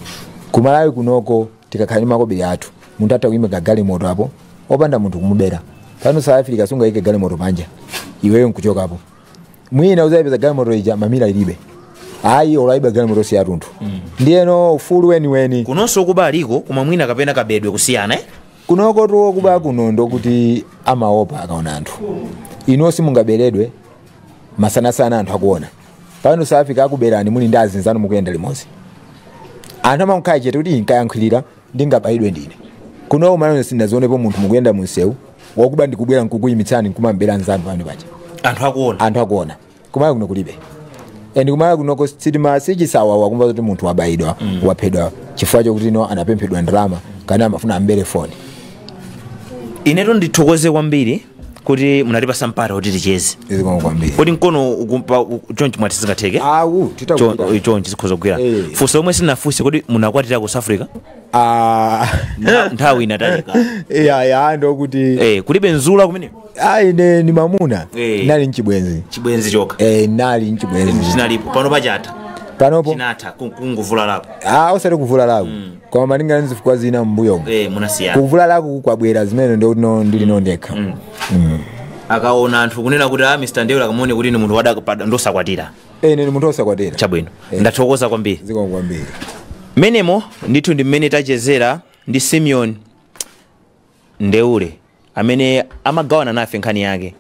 kumalawi kunoko tikakhala ndi makobiri athu munthu atha kuyimika galimoto apo opanda munthu kumubera pano south africa sungayike galimoto panja iweyo nkuchokapo mwina uzayipeza galimoto ija mamira ilibe ayi olo ayiba galimotoso yatunthu ndiyeno ufulu weniweni kunonso okuba aliko koma mwina kapena kabedwe kusiyana eh? kunokotu okuba kuno ndokuti amaopa akaona anthu inu simungaberedwe masanasana anthu akuona pano south africa akuberani muli ndi azinzanu mukuyenda limodzi anthu amakhala chete kuti ndikayankhulira ndingabayidwe ndine kuno kumalawi sindinazionepo munthu mukuyenda munsewu wakuba ndikubwera nkukuyimitsani nkumambera nzanu pamene paja anthu akuona anthu akuona kumalawi kuno kulibe and kumalawi kunoko sitima- si chisawawa kumva kuti munthu wabayidwa waphedwa chifukwa chokuti no anapemphedwa ndalama kana amafuna ambere foni inetu ndithokoze kwambiri kuti munatipasa mpata kuti ticheze zikomo kwambiri kodi mkono ukumpa u- chonchi mwati zingatheke awu Chon- titakuta chonchi zikhoza kugwira Eh. funso lomwe sinafunse kodi munakwatira ku south africa ah Ntha- nthawi inatalika ya ya ndokuti Eh, kulibe nzula kumene ayi ne ni mamuna Eh. nali nchibwenzi chibwenzi chokha eh nali nchibwenzi chinalipo pano pachata panopo chinatha kungovulalako ah osati kuvulalako koma malingana ndi zifukwa zina m'mbuyomo eh munasiyana kuvulalaku kwabwera zimene ndiye no ndili no ndekha akaona anthu kunena kuti a mr ndeule akamuone kuti ni munthu wadapada ndosakwatira ine ndi munthu osakwatira chabwino ndathokoza kwambiri zikomo kwambiri mmenemo ndithu ndi mmene tachezera ndi simeon Ndeule, amene amagawana nafe nkhani yake.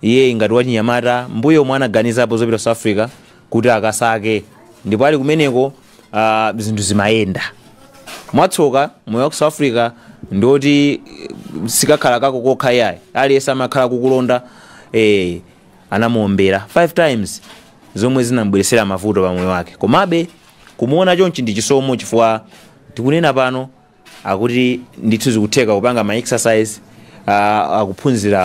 Iyeyi ngati wachinyamata, mmbuyomu anaganizapo zopita ku South Africa kuti akasake ndipo ali kumeneko ah, zinthu zimayenda. Mwatsoka moyo wa ku South Africa ndi woti eh, chikakhala kako kokha yayi, aliyense amakhala kukulonda eh, anamuombera 5 times zomwe zinamubweretsera mavuto pa moyo wake. Komabe kumuona chonchi ndi chisomo chifukwa tikunena pano akuti ndithu zikutheka kupanga ma exercise uh, akuphunzira